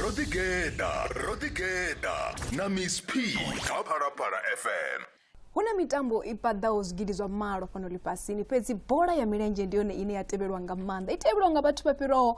ro ḓigeḓa ro ḓigeḓa na miss p kha phalaphala fm hu na mitambo i paḓaho zwigidi zwa malo fhano ḽifhasini fhedzi bola ya milenzhe ndi yone ine ya tevhelwa nga maanḓa i tevhelwa nga vhathu vha fhiraho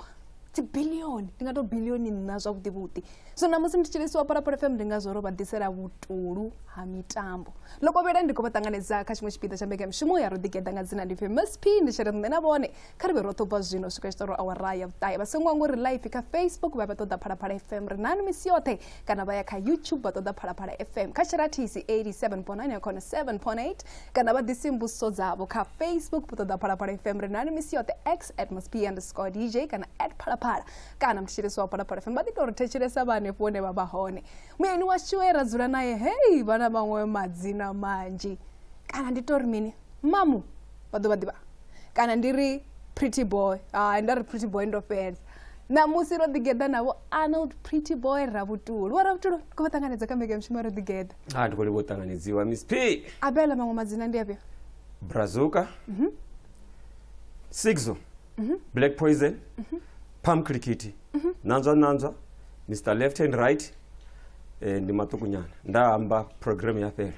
dzibilioni ndi nga to bilioni nṋa zwavhuḓi vhuḓi so namusi ndi tshilisiwa parapara fm ndi ngazwo ro vha ḓisela vhutulu ha mitambo lokovhela ndi khou vha ṱanganedza kha tshiṅwe tshipiḓa tsha mbekamishumo ya ro ḓigeḓa nga dzina ndi famous p ndi tshere nṋe na vhone kha ri vhe roṱhe ubva zwino u swika tshi ṱoro awara ya vhuṱahe vha songo ngo ri live kha facebook vha vha ṱoḓa phalaphala fm ri nani misi yoṱhe kana vha ya kha youtube vha ṱoḓa phalaphala fm kha sherathisi 87.9 ya khona 7.8 kana vha ḓisi mbusiso dzavho kha facebook vha ṱoḓa phalaphala fm ri nani misi yoṱhe x at must be underscore dj kana at phalaphala kana mthetshelesi wa phalaphala fm vha ḓi tou ri thetshelesa vha hanefho hune vha vha hone muyeni washu e ra dzula naye hei vha na maṅwe madzina manzhi kana ndi tori mini mamu vha ḓo vha ḓivha kana ndi ri pretty boy hai nda ri pretty boy ndo fhedza ṋamusi ro ḓigeḓa navho arnold pretty boy ravhutulu wa ravhutulu ri khou vha ṱanganedza kha mbekanyamushumo ro ḓigeḓa ha ndi khou livha u ṱanganedziwa miss p abela maṅwe madzina ndi afhio brazuka mhm. sigzo mhm. black poison mhm. pam khirikhithi mhm. nanzwa nanzwa mr left and right eh, ndi maṱuku nyana nda amba program ya fhela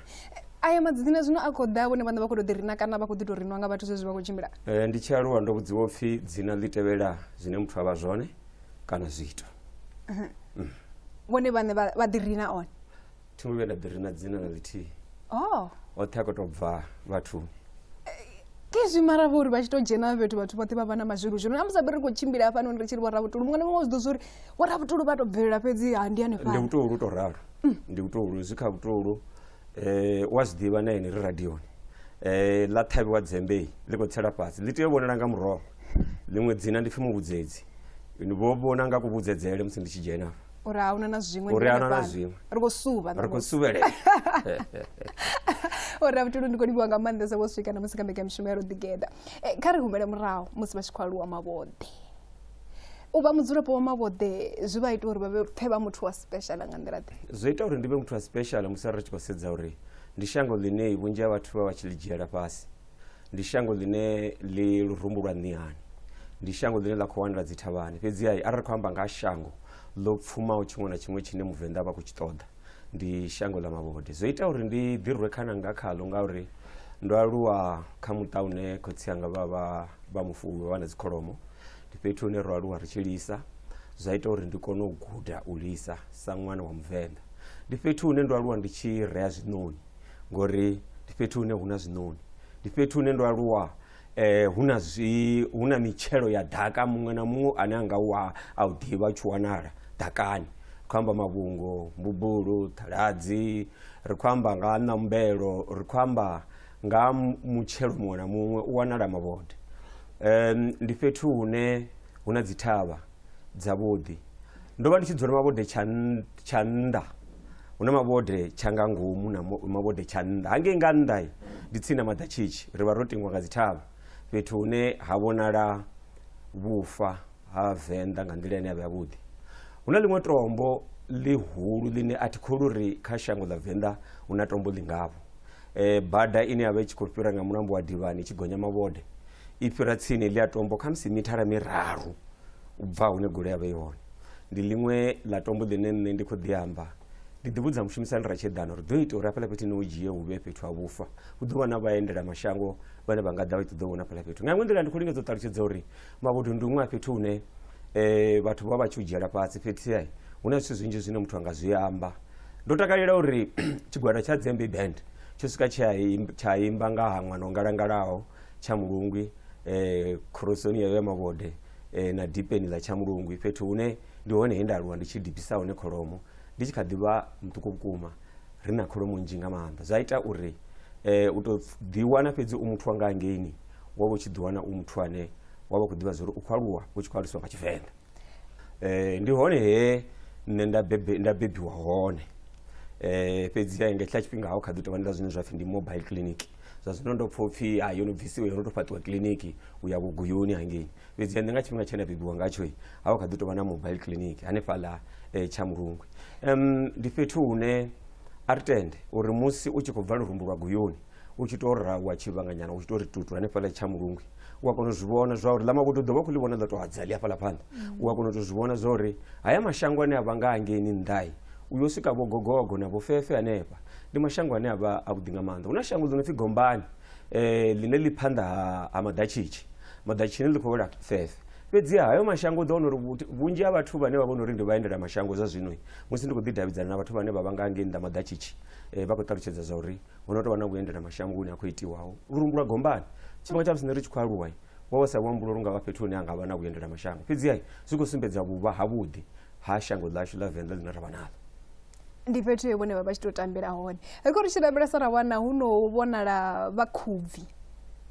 aya madzina zwino a khou ḓa vhone vhaṋe vha khou tou ḓirina kana vha khou ḓi tou rinwa nga vhathu zwezwi vha khou tshimbila eh, ndi tshi aluwa ndo vhudziwa u pfhi dzina ḽi tevhela zwine muthu a vha zwone kana zwiito mhm. mm. vhone vhaṋe vha ḓirina one thi ngo vhuya nda ḓi ri na dzina na ḽithihi oh oṱhe a khou tou bva vhathuni kezwi mara vho uri vha tshi tou dzhena fhethu vhathu vhoṱhe vha vha na mazwilu zwino na musabe ri khou tshimbila hafhanoni ri tshi ri vhorabutulu muṅwe na muṅwe zwi ḓo zwa uri vhorabutulu vha tou bvelela fhedzi ha ndi ndi hanefha vhutolu tou ralo mm. ndi vhutolu zwi kha vhutolu um wa zwi ḓivha na ene ri radioni um ḽa ṱhavhiwa dzembei ḽi khou tsela fhasi ḽi tea u vhonala nga muroho ḽiṅwe dzina ndi pfhi muvhudzedzi vho vhona nga kuvhudzedzele musi ndi tshi dzhena uri a huna na zwiṅwe uri a huna na zwiṅwe ri khou suvha ri khou suvhelela uri a vhutulu ndi khou livhiwa nga maanḓesa vho swika na musi kha mbekanyamushumo ya roḓigeda e, kha ri humele murahu musi vha tshi khou aluwa mavhoḓe u vha mudzulapo wa mavhoḓe zwi vha ita uri vha pfe vha muthu wa special nga nḓila ḓe zwi ita uri ndi vhe muthu wa special musi ri tshi khou sedza uri ndi shango ḽine vhunzhi ha vhathu vha vha tshi ḽi dzhiela fhasi ndi shango ḽine ḽi lurumbu lwa nṋihani ndi shango ḽine ḽa khou wanela dzithavhani fhedziha arali ri khou amba nga ha shango ḽo pfumaho tshiṅwe na tshiṅwe tshine muvenḓa vha khou tshi ṱoḓa ndi shango ḽa mavhode zwo ita uri ndi ḓi rwe khana nga khaḽo ngauri ndo aluwa kha muṱa une khotsi anga vha vha vha mufuwi vha na dzikholomo ndi fhethu hune ro aluwa ri tshi lisa zwa ita uri ndi kone u guda u lisa sa ṅwana wa muvenḓa ndi fhethu hune ndo aluwa ndi tshi rea zwiṋoni ngori ndi fhethu hune hu na zwiṋoni ndi fhethu hune ndo aluwa eh hu na zwi hu na mitshelo ya ḓaka muṅwe na muṅwe ane a nga wa a u ḓivha tshi wanala ḓakani ri khou amba mavhungo mbubulu ṱhaladzi ri khou amba nga ha ṋambelo ri khou amba nga ha mu- mutshelo muṅwe na muṅwe u wanala mavhode um, ndi fhethu hune hu na dzithavha dzavhuḓi ndo vha ndi tshi dzula mavhode tsha nnḓa hu na mavhode tsha nga ngomu na mavhode tsha nnḓa hangei nga nnḓa ndi tsini na maḓatshitshi ri vha ro tingwa nga dzithavha fhethu hune ha vhonala vhufa ha venḓa nga nḓila ine ya vha yavhuḓi hu na ḽiṅwe tombo ḽihulu ḽine a thi kholu ri kha shango ḽa venḓa hu na tombo ḽi ngavho um bada ine ya vha i tshi khou fhira nga mulambo wa divhani i tshi gonya mavhode i fhira tsini ḽi a tombo kha musi mithara miraru u bva hune golo ya vha i hone ndi ḽiṅwe ḽa tombo ḽine nṋe ndi khou ḓi amba ndi ḓi vhudza mushumisani ra tsheḓana uri ḓo ita uri hafhaḽa fhethu ni u dzhie hu vhe fhethu ha vhufa hu ḓo vha na vhaendela mashango vhane vha nga ḓa vha tshi ṱoḓa u vhona fhaḽa fhethu nga iṅwe nḓila ndi khou lingedza u ṱalutshedza uri mavhudu ndi huṅwe a fhethu hune um vhathu vha vha tshi u dzhiela fhasi fhethu ya hu na zwithu zwinzhi zwine muthu a nga zwi amba ndo takalela uri tshigwada tsha dzembe band tsho swika tsha imba nga ha ṅwana o ngalangalaho tshamulungwi eh, khorosoni yayo ya mavhode eh, na dipeni ḽa tshamulungwi fhethu hune ndi hone he nda aluwa ndi tshi dipisa hone kholomo ndi tshi kha ḓi vha muṱuku vhukuma ri na kholomo nzhi nga maanḓa zwa ita uri eh, u tou ḓiwana fhedzi u muthu wa nga hangeini wa vha u tshi ḓiwana u muthu ane wa vha u khou ḓivha zwa uri u khou aluwa u tshi khou aluswa nga tshivenḓa eh, ndi hone he nṋe nda bebe- nda bebiwa hone eh, fhedzi ya nga tshila tshifhinga ha u kha ḓi tovha ndi ḽa zwine zwa pfhi ndi mobile clinic zwa zwino ndo pfha upfhi ha yo no bvisiwa yo no tou fhaṱiwa kiḽiniki u ya vhuguyuni hangei fhedzi nṋe nga tshifhinga tshe nda bebiwa ngatsho ha vha kha ḓi tou vha na mobile clinic hanefhaḽa um tsha mulungwe um ndi fhethu hune a ri tende uri musi u tshi khou bva lurumbu lwa guyuni u tshi tou ra wa tshivhanganyana u tshi tou ri tutu hanefhaḽa tsha mulungwe u a kona u zwi vhona zwa uri ḽa makudo u ḓo vha khou ḽi vhona ḽa tou hadza ḽi hafhaḽa phanḓa u a kona u tou zwi vhona zwa uri haya mashango ane a vha nga hangeini nnḓai u yo swika vho gogogo na vhofefe hanefha ndi mashango ane a vha avhuḓi nga maanḓa hu na shango ḽi no pfi gombani um ḽine ḽi phanḓa ha maḓatshitshi maḓatshini ḽi khou wela fefe fhedziha hayo mashango u ḓo wana uri vhunzhi ha vhathu vhane vha vhona uri ndi vhaendela mashango zwa zwino musi ndi khou ḓidavhidzana na vhathu vhane vha vha nga ngei nnḓa maḓatshitshi um vha khou ṱalutshedza zwa uri hu no tou vha na vhuendela mashango hune a khou itiwaho lurumbu lwa gombani tshifhinga tsha musi nṋe ri tshi khou aluwa wa vha sa luambulo lu nga vha fhethu hune ha nga vha na vhuendela mashango fhedziha zwi khou sumbedza vhuvha havhuḓi ha shango ḽashu ḽa venḓa ḽine ra vha naḽo ndi fhethu vhone vha vha tshi tou tambela hone ri khou ri tshi lavhelesa ra wana hu no vhonala vhakhubvi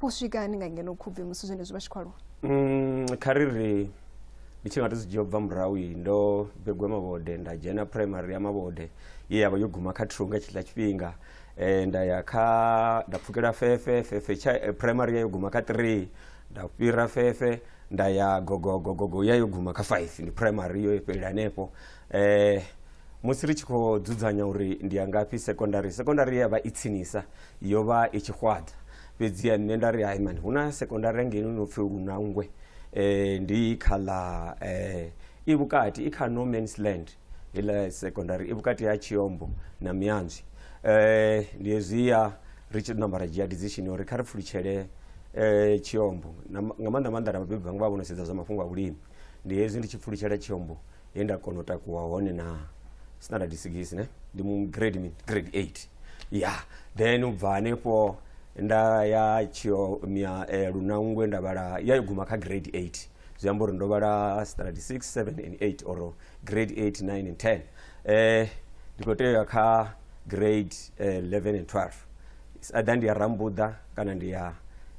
vho swika hani nga ngeno khubvi musi zwenezwi vha tshi khou aluwa mm, kha ri ri ndi tshi nga to zwi dzhia bva murahu iyi ndo begwa mavhode nda dzhena primary ya mavhode ye ya vha yo guma kha thunga tshiḽa tshifhinga eh, nda ya kha nda pfukela fefe fefe tsha eh, primary ya yo guma kha three nda fhira fefe nda ya gogogogogo ya yo guma kha five ndi primary yo fhelela hanefho eh, musi ri tshi khou dzudzanya uri ndi ya ngafhi sekondari sekondari ya vha i tsinisa yo vha i tshi xwaḓa fhedzi ya nṋe nda ri hai mani hu na sekondari ngeno no pfi lunangwe um ndi kha ḽa um i vhukati i kha no mans land heiḽa sekondari i vhukati ha tshiombo na mianzwi um ndi hezwiya ri tshi namba ra dzhia decision uri kha ri pfulutshele um tshiombo nga maanḓa maanḓa na vhabebi vhanga vha vho no sedza zwa mafhungo a vhulimi ndi hezwi ndi tshi pfulutshela tshiombo he nda kona u takuwa hone na sinada disigisi ne ndi mu grade mi grade eight ya then u bva hanefho nda ya tshio mia eh, lunangwe nda vhala ya guma kha grade eight zwi amba uri ndo vhala standard six seven and eight or grade eight nine and ten eh, ndi khou tea u ya kha grade eh, 11 and 12 ada ndi ya rambuḓa kana ndi ya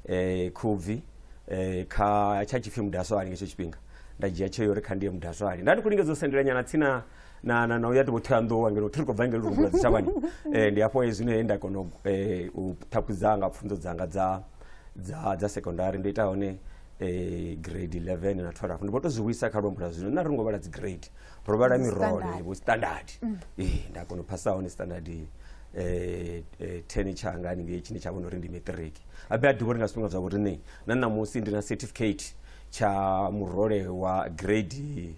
eh, khubvi eh, kha tsha tshipfi mudaswani ngetsho tshifhinga nda dzhia tsheo uri kha ndi ye mudazwali nda ndi khou lingedza u sendela nyana tsini na na na na uya tibo thoyanḓou ngeno thi ri khou bva ngeno rugula dzitshavhani eh, ndi hafho zwino he nda kona u, eh, u ṱhaphudza nga pfunzo dzanga dza dza dza secondary ndo ita hone eh, grade 11 na 12 ndi vho to zwi vhuisa kha luambo lwa zwino nna ri ngo vhala dzi grade ro vhala Dzi mirole standard. vho standard eh, nda kona u phasa hone standard eh, eh, 10 tshanga haningei tshine tsha vhona uri ndi matric abe a ḓivha uri nga zwifhinga zwa vhoriṋei na ṋamusi ndi na certificate tsha murole wa grade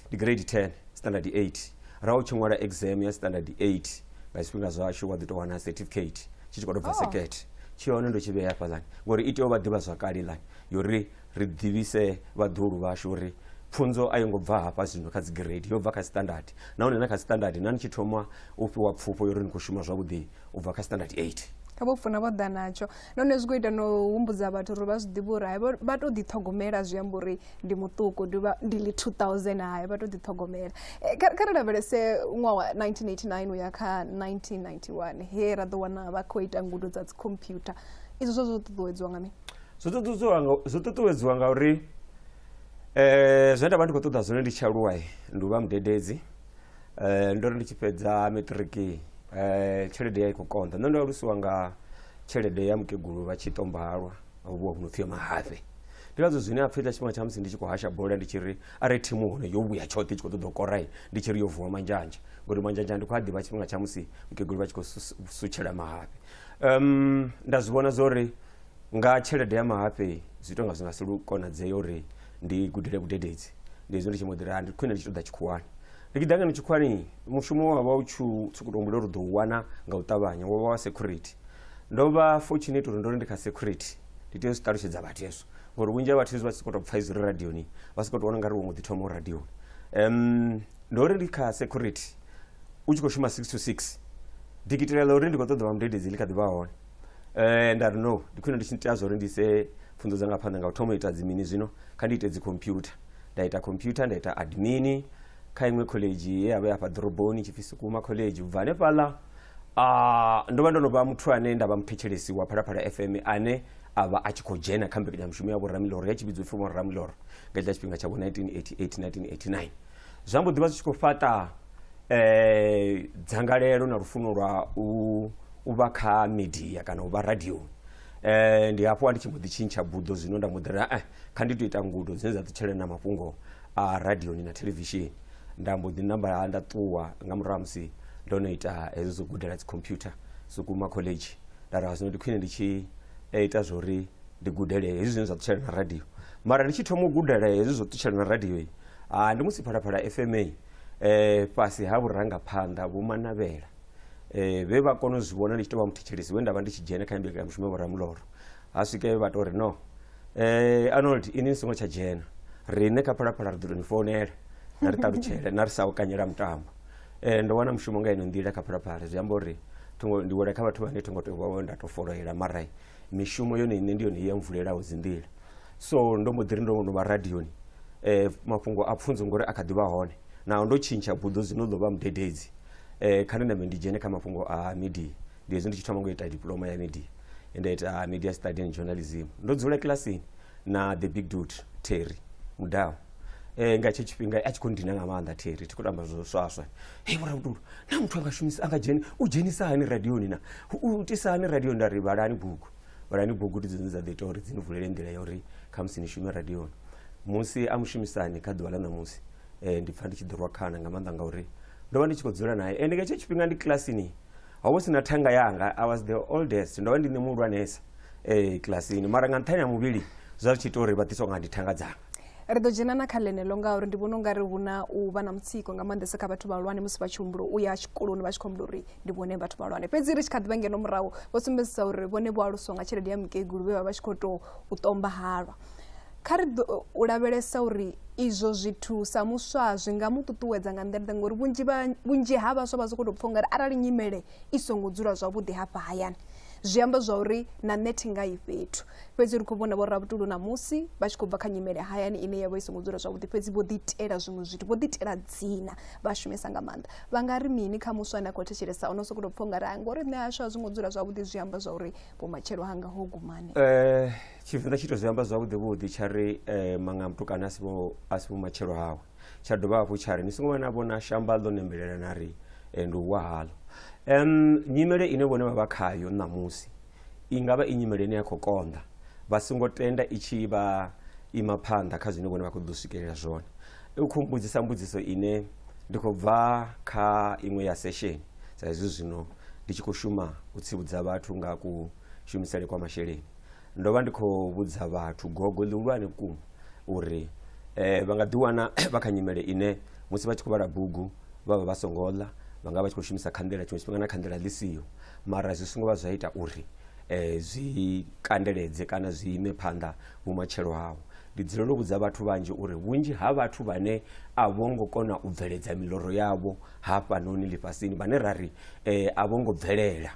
ndi grade 10 standard 8 ra u tshi ṅwala exam ya standard 8 nga zwifhinga zwashu wa ḓi tou wana certificate tshi tshi khou tou bva sekete tshi hone ndo tshi vhea fhaḽani ngori i tea u vha ḓivha zwakale lani yori ri ḓivhise vhaḓulu vhashu uri pfunzo a yo ngo bva hafha zwino kha dzi grade yo bva kha standard nahone na kha standard na ni tshi thoma u fhiwa pfufho yori ni khou shuma zwavhuḓi u bva kha standard 8 kha vho funa vho ḓa natsho nahone zwi khou ita no humbudza vhathu uri vha zwi ḓivha uri hai vha tou ḓiṱhogomela zwi amba uri ndi muṱuku ndi li 2000 hai vha tou ḓiṱhogomela eh, kha ri lavhelese ṅwaha wa 1989 u ya kha 1991 he ra ḓo wana vha khou ita ngudo dza dzikhompyutha izwo zwo zwo ṱuṱuwedziwa nga mini zwo ṱuṱuwedziwa nga uri um zwine nda vha ndi khou ṱoḓa zwone ndi tshi aluwa ndi u vha mudededzi Eh, ndo ri ndi tshi fhedza matriki eh, tshelede ya i khou konḓa nṋe ndo alusiwa nga tshelede ya mukegulu vha tshi tombalwa vhuwa vhu no pfhi ya mahafhe ndi ngazwo zwine a pfhi ḽa tshifhinga tsha musi ndi tshi khou hasha bola ndi tshi ri a re thimu hone yo vhuya tshoṱhe i tshi khou ṱoḓa u korai ndi tshi ri yo vuwa manzhanzha ngori manzhanzha ndi khou a ḓivha tshifhinga tsha musi mukegulu vha tshi khou sus- sutshela mahafhe um, nda zwi vhona zwo ri nga tshelede ya mahafhe zwi tonga zwi nga si lu konadzee uri ndi gudele vhudededzi ndi hezwo ndi tshi mbo ḓi ri "Ah, ndi khwine ndi tshi ṱoḓa tshikhuwani ndi tshi ḓa ngeno tshikhuwani mushumo wa vha u tshi u tshi khou tou humbula uri u ḓo u wana nga u ṱavhanya wo vha wa security ndo vha fortunate uri ndo ri ndi kha security ndi tea u zwi ṱalutshedza vhathu hezwo ngori vhunzhi ha vhathu hezwi vha tshi sokou tou pfha izwi ri radioni vha sokou tou vhona nga ri wo mbo ḓi thoma u radioni um, ndo ri ndi kha security u tshi khou shuma 6 to 6 dikitela ḽa uri ndi khou ṱoḓa vha mudededzi ḽi kha ḓi vha hone um nda ri no ndi khwine ndi tshi tea zwa uri ndi ise pfunzo dzanga phanḓa nga u thoma u ita dzimini zwino kha ndi ite dzikhompyutha nda ita khompyutha nda ita admini kha iṅwe khoḽedzhi ye ya vha ya fha ḓoroboni tshipfi sukuma khoḽedzhi ubva hanefhaḽa uh, ndo vha ndo no vha muthu ane nda vha muthetshelesi wa phalaphala fm ane a vha a tshi khou dzhena kha mbekanyamushumo ya vhoramiloro ya tshi vhidzwa upfi vhoramiloro nga tshiḽa tshifhinga tsha vho 1988 1989 zwa mbo ḓivha zwi tshi khou fhaṱa um dzangalelo na lufuno lwa u vha kha media kana u vha radioni um ndi hafho a ndi tshi mbo ḓi tshintsha buḓo zwino nda mbo ḓi ri e kha ndi to ita ngudo dzine dza ṱutshele na mafhungo a radioni na thelevishini nda mbo ḓi namba nda ṱuwa nga murahu ha musi ndo no ita hezwo zwo gudela dzikhompyutha sukuma college nda ri zwino ndi khwine ndi tshi ita zwo ri ndi gudele hezwi zwine zwa ṱutshela na radio mara ndi tshi thoma u gudela hezwi zwo ṱutshela na radio Ah, ndi musi phalaphala fma eh, fhasi ha vhurangaphanḓa vho manavhela eh, vhe vha kona u zwi vhona ndi tshi tou vha muthetshelesi we nda vha ndi tshi dzhena kha mbekanyamushumo ya vhoramuloro ha swike vha tou ri no eh, arnold ini ni songo tsha dzhena riṋe kha phalaphala ri ḓo tou ni founela na ri ṱalutshele na ri sa u kanyela mutambo eh, ndo wana mushumo nga ino nḓila kha phalaphala zwi amba uri thongo ndi wela kha vhathu vhane thongo tou vha nda tou foloela marai mishumo yone ine ndi yone i ya mvulelaho dzinḓila so ndo mbo ḓi ri ndo no vha radioni eh, mafhungo a pfunzo ngori a kha ḓi vha hone naho ndo tshintsha buḓo zwino ḓo vha mudededzi eh, kha ndi nambe ndi dzhene kha mafhungo a media ndi hezwi ndi tshi thoma ngo ita diploma ya media nda ita media study and journalism ndo dzula kilasini na the big dude terry mudau eh, nga tshe tshifhinga a tshi khou ndina nga maanḓa terry thi khou tamba zwo swaswa hei vhorabudulu na muthu anga shumisa anga dzheni u dzhenisa hani radioni na u tisa hani radio nda ri vhalani bugu vhalani bugu ndi dzone dza ḓo ita uri dzi ni vulele nḓila ya uri khamusi ni shume radioni musi a mushumisani kha ḓuvha ḽa ṋamusi um ndi pfha ndi tshi ḓo rwa khana nga maanḓa ngauri ndo vha ndi tshi khou dzula naye ende nga hetsho tshifhinga ndi kilasini ho vha si na thanga yanga i was the oldest ndo vha ndi nṋe muhulwanesa um kilasini mara nga nṱhani ha muvhili zwa zwi tshi ita uri vha ḓiswa nga ndi thanga dzanga ri ḓo dzhena na kha ḽeneḽo ngauri ndi vhona ungari hu na u vha na mutsiko nga maanḓesa kha vhathu vhahulwane musi vha tshi humbulo u ya tshikoloni vha tshi khou humbula uri ndi vhone vhathu vhahulwane fhedzi ri tshi kha ḓivha ngeno murahu vho sumbedzisa uri vhone vho aluswa nga tshelede ya mukegulu vhe vha vha tshi khou tou u ṱomba halwa kha ri u lavhelesa uri izwo zwithu sa muswa zwi nga mu ṱuṱuwedza nga nḓila ngori vhunzhi ha vhaswa vha sokou tou pfha ungari arali nyimele i songo dzula zwavhuḓi hafha hayani zwi amba zwa uri na nṋe thi nga i fhethu fhedzi ri khou vhona vho rabutulu ṋamusi vha tshi khou bva kha nyimele hayani ine ya vha i songo dzula zwavhuḓi fhedzi vho ḓiitela zwiṅwe zwithu vho ḓiitela dzina vha shumesa nga maanḓa vha nga ri mini kha muswa ane a khou thetshelesa ono sokou tou pfha ungari a ngori nṋe hashu a zwi ngo dzula zwavhuḓi zwi amba zwa uri vhomatshelo hanga ho gumani um eh, tshivenḓa tshi to zwi amba zwavhuḓi vhuḓi tsha ri um eh, manga mutukana a si vhomatshelo hawe tsha dovha hafhu tsha ri ni songo vha na vhona shamba ḽo nembelela na ri eh, ndi u wa haḽo um nyimele ine vhone vha vha khayo ṋamusi i nga vha i nyimele ine ya khou konḓa vha songo tenda i tshi vha ima phanḓa kha zwine vhone vha khou ḓo swikelela zwone u khou mbudzisa mbudziso ine ndi khou bva kha iṅwe ya session sa izwi zwino ndi tshi khou shuma u tsivhudza vhathu nga ku shumisele kwa masheleni ndo vha ndi khou vhudza vhathu gogo ḽihulwane vhukuma uri um vha nga ḓiwana vha kha nyimele ine musi vha tshi khou vhala bugu vha vha vha songo ḽa vha nga vha tshi khou shumisa khanḓela tshiṅwe tshifhinga na khanḓela ḽi siho mara zwi songo vha zwa ita uri um zwi kandeledze kana zwi ime phanḓa vhumatshelo hawo ndi dzulela u vhudza vhathu vhanzhi uri vhunzhi ha vhathu vhane a vho ngo kona u bveledza miloro yavho hafhanoni ḽifhasini vhane ra ri um a vho ngo bvelela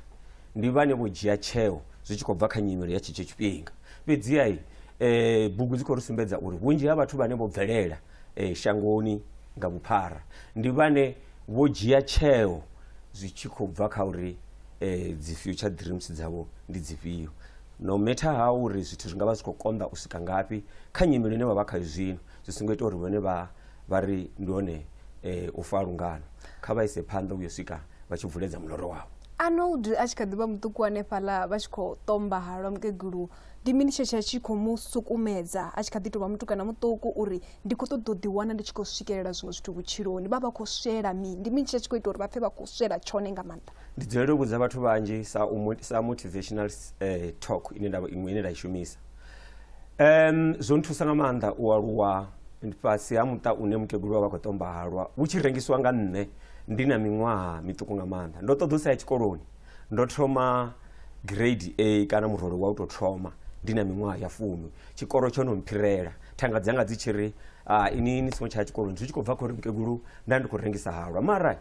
ndi vhane vho dzhia tsheo zwi tshi khou bva kha nyimelo ya tshetsho tshifhinga fhedziha um eh, bugu dzi khou ri sumbedza uri vhunzhi ha vhathu vhane vho bvelela um shangoni nga vhuphara ndi vhane vho dzhia tsheo zwi tshi khou bva kha uri um dzi future dreams dzavho ndi dzifhio no matter ha uri zwithu zwi nga vha zwi khou konḓa u swika ngafhi kha nyimelo ine vha vha khayo zwino zwi songo ita uri vhone vha vha ri ndi hone eh, u fa lungano kha vha ise phanḓa uyo swika vha tshi vuledza muloro wavho anold a tshi kha ḓi vha muṱuku hanefhaḽa vha tshi khou ṱomba halwa mukegulu ndi mini tshe tsha tshi khou mu sukumedza a tshi kha ḓi tou vha mutukana muṱuku uri ndi khou ṱoḓa u ḓiwana ndi tshi khou swikelela zwiṅwe zwithu vhutshiloni vha vha khou swela mini ndi mini tshe tsha tshi khou ita uri vha pfe vha khou swela tshone nga maanḓa ndi dzulele u vhudza vhathu vhanzhi sa, u, mo- sa motivational eh, talk ine nda, iṅwe ine nda i shumisa Um, zwo nthusa nga maanḓa u aluwa fhasi ha muṱa une mukegulu wa vha khou tomba halwa hu tshi rengisiwa nga nṋe ndi na miṅwaha miṱuku nga maanḓa ndo ṱoḓa u sa ya tshikoloni ndo thoma grade a kana murole wa u tou thoma ndi na miṅwaha ya fumi tshikolo tsho no mphirela thanga dzanga dzi tshi ri ah, ini ni songo tshaya tshikoloni zwi tshi khou bva khori mukegulu nda ndi khou rengisa halwa mara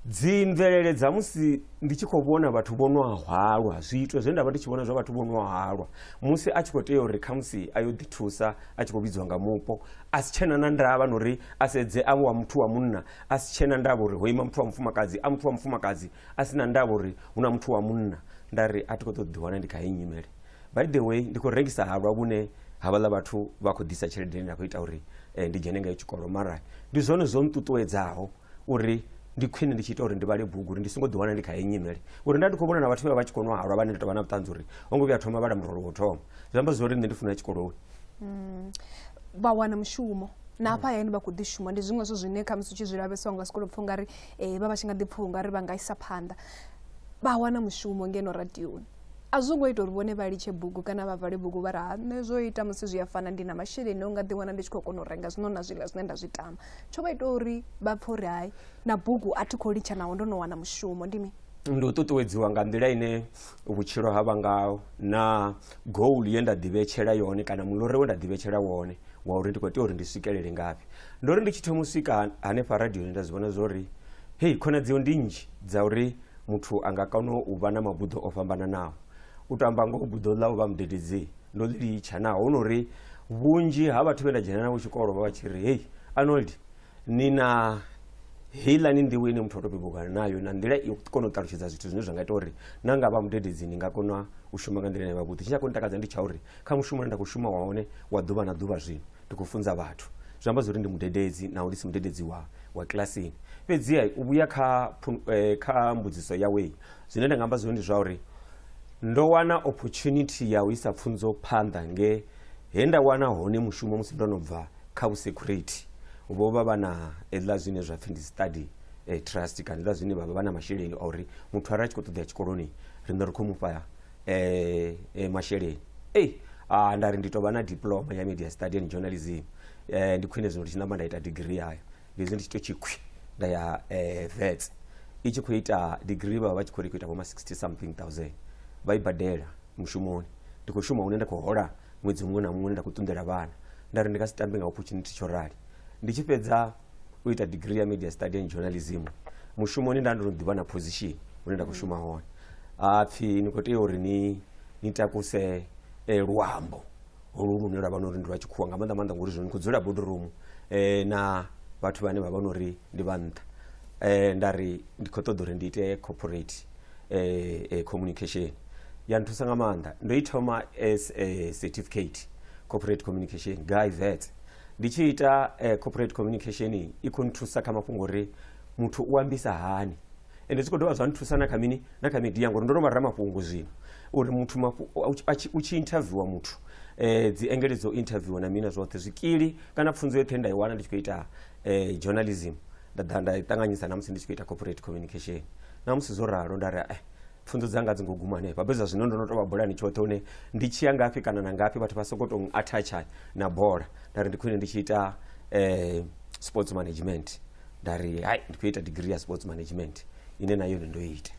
dzi mvelele dza musi ndi tshi khou vhona vhathu vho no hwalwa zwiito zwe nda vha ndi tshi vhona zwa vhathu vho no hwalwa musi a tshi khou tea uri khamusi a yo ḓithusa a tshi khou vhidziwa nga mupo a si tshena na ndavha na uri a sedze avho wa muthu wa munna a si tshena ndavha uri ho ima muthu wa mufumakadzi a muthu wa mufumakadzi a si na ndavha uri hu na muthu wa munna nda ri a thi khou ṱoḓa ḓiwana ndi kha heyi nyimele by the way ndi khou rengisa halwa vhune havhaḽa vhathu vha khou ḓisa tshelede ine nda khou ita uri eh, ndi dzhene ngayo tshikolo mara ndi zwone zwo nṱuṱuwedzaho uri ndi khwine ndi tshi ita uri ndi vhale bugu uri ndi songo ḓiwana ndi kha heyi nyimele uri nda ndi khou vhona na vhathu vha vha tshi kono halwa vhane ndi tovha na vhuṱanzi uri ho ngo vhuya thoma vhala murolo wo thoma zwi amba zwori nṋe ndi funa tshikolowe mm. vha wana mushumo na hafha hayani vha khou ḓi shuma ndi zwiṅwe zwo zwine khamusi u tshi zwi lavhesa unga sikolo pfha ungari um eh, vha vha tshi nga ḓi pfha ungari vha nga isa phanḓa vha wana mushumo ngeno radioni a zwo ngo ita uri vhone vha litshe bugu kana vha vale bugu vha ri ha nṋe zwo ita musi zwi a fana ndi na masheleni o nga ḓiwana ndi tshi khou kona u renga zwino na zwiḽa zwine nda zwi tama tsho vha ita uri vha pfhe uri hai na bugu a thi khou litsha naho ndo no wana mushumo ndi mini ndi u ṱuṱuwedziwa nga nḓila ine vhutshilo ha vha ngaho na goal ye nda ḓivhetshela yone kana mulore we nda ḓivhetshela wone wa uri ndi khou tea uri ndi swikelele ngafhi ndo ri ndi tshi thoma u swika hanefha radioni nda zwi vhona zwo ri hei khonadzeo ndi nnzhi dza uri muthu a nga kona u vha na mabuḓo o fhambananaho u tou amba ngoho buḓo ḽa u vha mudededzi ndo ḽi litsha naho hu no uri vhunzhi ha vhathu vhe nda dzhena navho tshikolo vha vha tshi ri hei arnold ni na heiḽani nḓivho ine muthu o to bebugana nayo na nḓila i kona u ṱalutshedza zwithu zwine zwa nga ita uri na nga vha mudededzi ni nga kona u shuma nga nḓila ine vha vhuḓi tshine a kho ni takadza ndi tsha uri kha mushumo une nda khou shuma wa hone wa ḓuvha na ḓuvha zwino Ndi khou funza vhathu. Zwi amba zwa uri ndi mudededzi naho ndi si mudededzi wa, wa kilasini. Fhedziha u vhuya kha, kha mbudziso yawe, zwine nda nga amba zwone ndi zwa uri ndo wana opportunity ya u isa pfunzo phanḓa nge he nda wana hone mushumo musi ndo no bva kha vhusekhurithi. Vho vha vha na hezwiḽa zwine zwa pfi ndi study trust kana hezwiḽa zwine vha vha vha na masheleni a uri muthu arali a tshi khou ṱoḓea tshikoloni riṋe ri khou mu fha eh, eh, masheleni ei ah, ndari ndi tovha na diploma ya media study and journalism eh, ndi khwine zwino ndi tshi namba nda ita degree yayo ndi zwi ndi tshi to tshikhwi nda ya eh, vets i tshi khou ita degree vha vha vha tshi khou ri khou ita vhoma 60 something thousand vha i badela mushumoni ndi khou shuma hune nda khou hola ṅwedzi muṅwe na muṅwe nda khou ṱunḓela vhana nda ri ndi nga si tambe nga opportunity tsho rali ndi tshi fhedza u ita degree ya media study and journalism mushumoni nda ndo no ḓivha na position hune nda khou shuma hone ha pfhi ni khou tea uri ni ni takuse eh, luambo holu lune lwa vha no uri ndi lwa tshikhuwa nga maanḓa maanḓa ngori zwino ni khou dzula bodoromu eh, na vhathu vhane vha vha no uri ndi vha nṱha eh, nda ri ndi khou ṱoḓa uri ndi ite corporate eh, eh, communication ya nthusa nga maanḓa ndo i thoma as a certificate corporate communication guy vet ndi tshi ita eh, corporate communication iyi, i khou nthusa kha mafhungo uri muthu u ambisa hani ende zwi khou dovha zwa nthusa na kha mini na kha media ngori ndo no vha ramafhungo zwino uri muthu mafu- u tshi- a tshi- u tshi interviewa muthu eh, dzi engele dzo interviewa na mina zwoṱhe zwikili kana pfunzo yoṱhe nda i wana ndi tshi khou ita eh, journalism nda ḓa nda i ṱanganyisa na musi ndi tshi khou ita corporate communication na musi zwo ralo nda ri eh, pfunzo dzanga dzi ngo guma hanefha fhedzi zwino ndo no tou vha bolani tshoṱhe hune ndi tshi ya ngafhi kana na ngafhi vhathu vha soko tou attacha na bola nda ri ndi khwine ndi tshi ita um sports management nda ri hai ndi khou ita degree ya sports management ine na yone ndo ita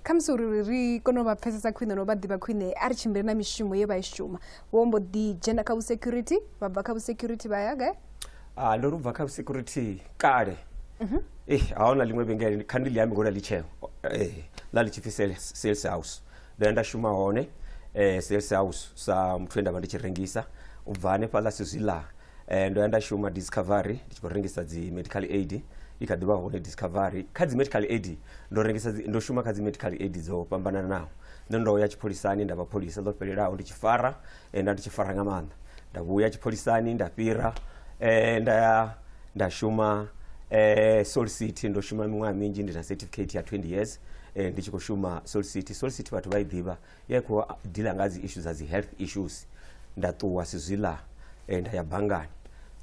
khamusi uri ri kone u vha pfesesa khwine no vha ḓivha khwine a ri tshimbile na mishumo ye vha i shuma vho mbo ḓi dzhena kha vhusecurity vha bva kha vhusecurity vha ya gai ah ndo lubva kha security kale Mhm. eh haona ḽiṅwe vhengele kha ndi ḽi ambi ngori ḽi tsheo eh ḽa ḽi tshi pfi sales, sales house ndo ya nda shuma hone eh sales house sa muthu we nda vha ndi tshi rengisa u bva hanefhaḽa sizwiḽa eh ndo ya nda shuma discovery ndi tshi khou rengisa dzi medical aid i kha ḓi vha hone discovery kha dzi medical aid ndo rengisa dzi- ndo shuma kha dzi medical aid dzo fhambananaho nṋe ndo ya tshipholisani nda vha pholisa ḽo fhelelaho ndi tshi fara eh, nda ndi tshi fara nga maanḓa nda vhuya tshipholisani nda fhira eh, nda ya nda shuma eh, soul city ndo shuma miṅwaha minzhi ndi na certificate ya 20 years eh, ndi tshi khou shuma soul city soul city vhathu vha i ḓivha ya i khou dila nga dzi issues dza dzi health issues nda ṱuwa sizwila eh, nda ya banngani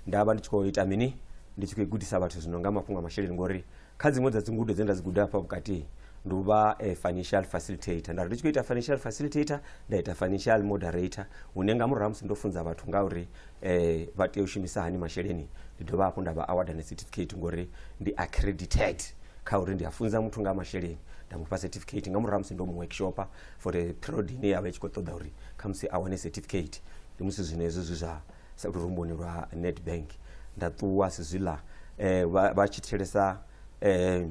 nda vha ndi tshi khou ita mini ndi tshi khou i gudisa vhathu zwino nga mafhungo a masheleni ngori kha dziṅwe dza dzingudo dzine nda dzi guda hafha vhukati ndi u vha eh, financial facilitator nda ri ndi tshi khou ita financial facilitator nda ita financial moderator hune nga murahu ha musi ndo funza vhathu nga uri eh, vha tea u shumisa hani masheleni ndi dovha hafhu nda vha award na certificate ngori ndi accredited kha uri ndi a funza muthu nga ha masheleni nda mu fha certificate nga murahu ha musi ndo mu workshopa for a period ine ya vha i tshi khou ṱoḓa uri khamusi a wane certificate ndi musi zwino hezwo zwi zwa sa lurumboni lwa nedbank nda ṱuwa sizwiḽa eh, vha vha tshi thetshelesa eh,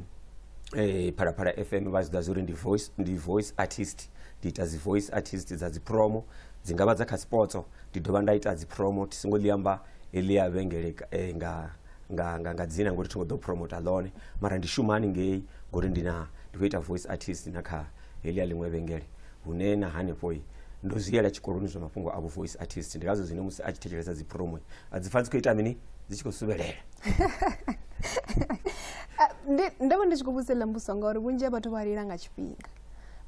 eh, phalaphala fm vha zwi ḓa zwa uri ndi voice, ndi voice artist ndi ita dzi voice artist dza dzipromo dzi nga vha dza kha sipotso ndi dovha nda ita dzipromo thi songo ḽi amba heḽi ya vhengele ka- eh, nga nga nga nga dzina ngori thi ngo ḓo promota ḽone mara ndi shuma haningei ngori ndi na ndi khou ita voice artist na kha heḽi ya ḽiṅwe vhengele hune na hanefho ndo zwi yela tshikoloni zwa mafhungo a voice artist ndi ngazwo zwine musi a tshi thetshelesa dzi promo a dzi pfa dzi khou ita mini dzi tshi khou suvhelela ah, ndo vha ndi tshi khou vhudzela mbuso ngauri vhunzhi ha vhathu vha lila nga tshifhinga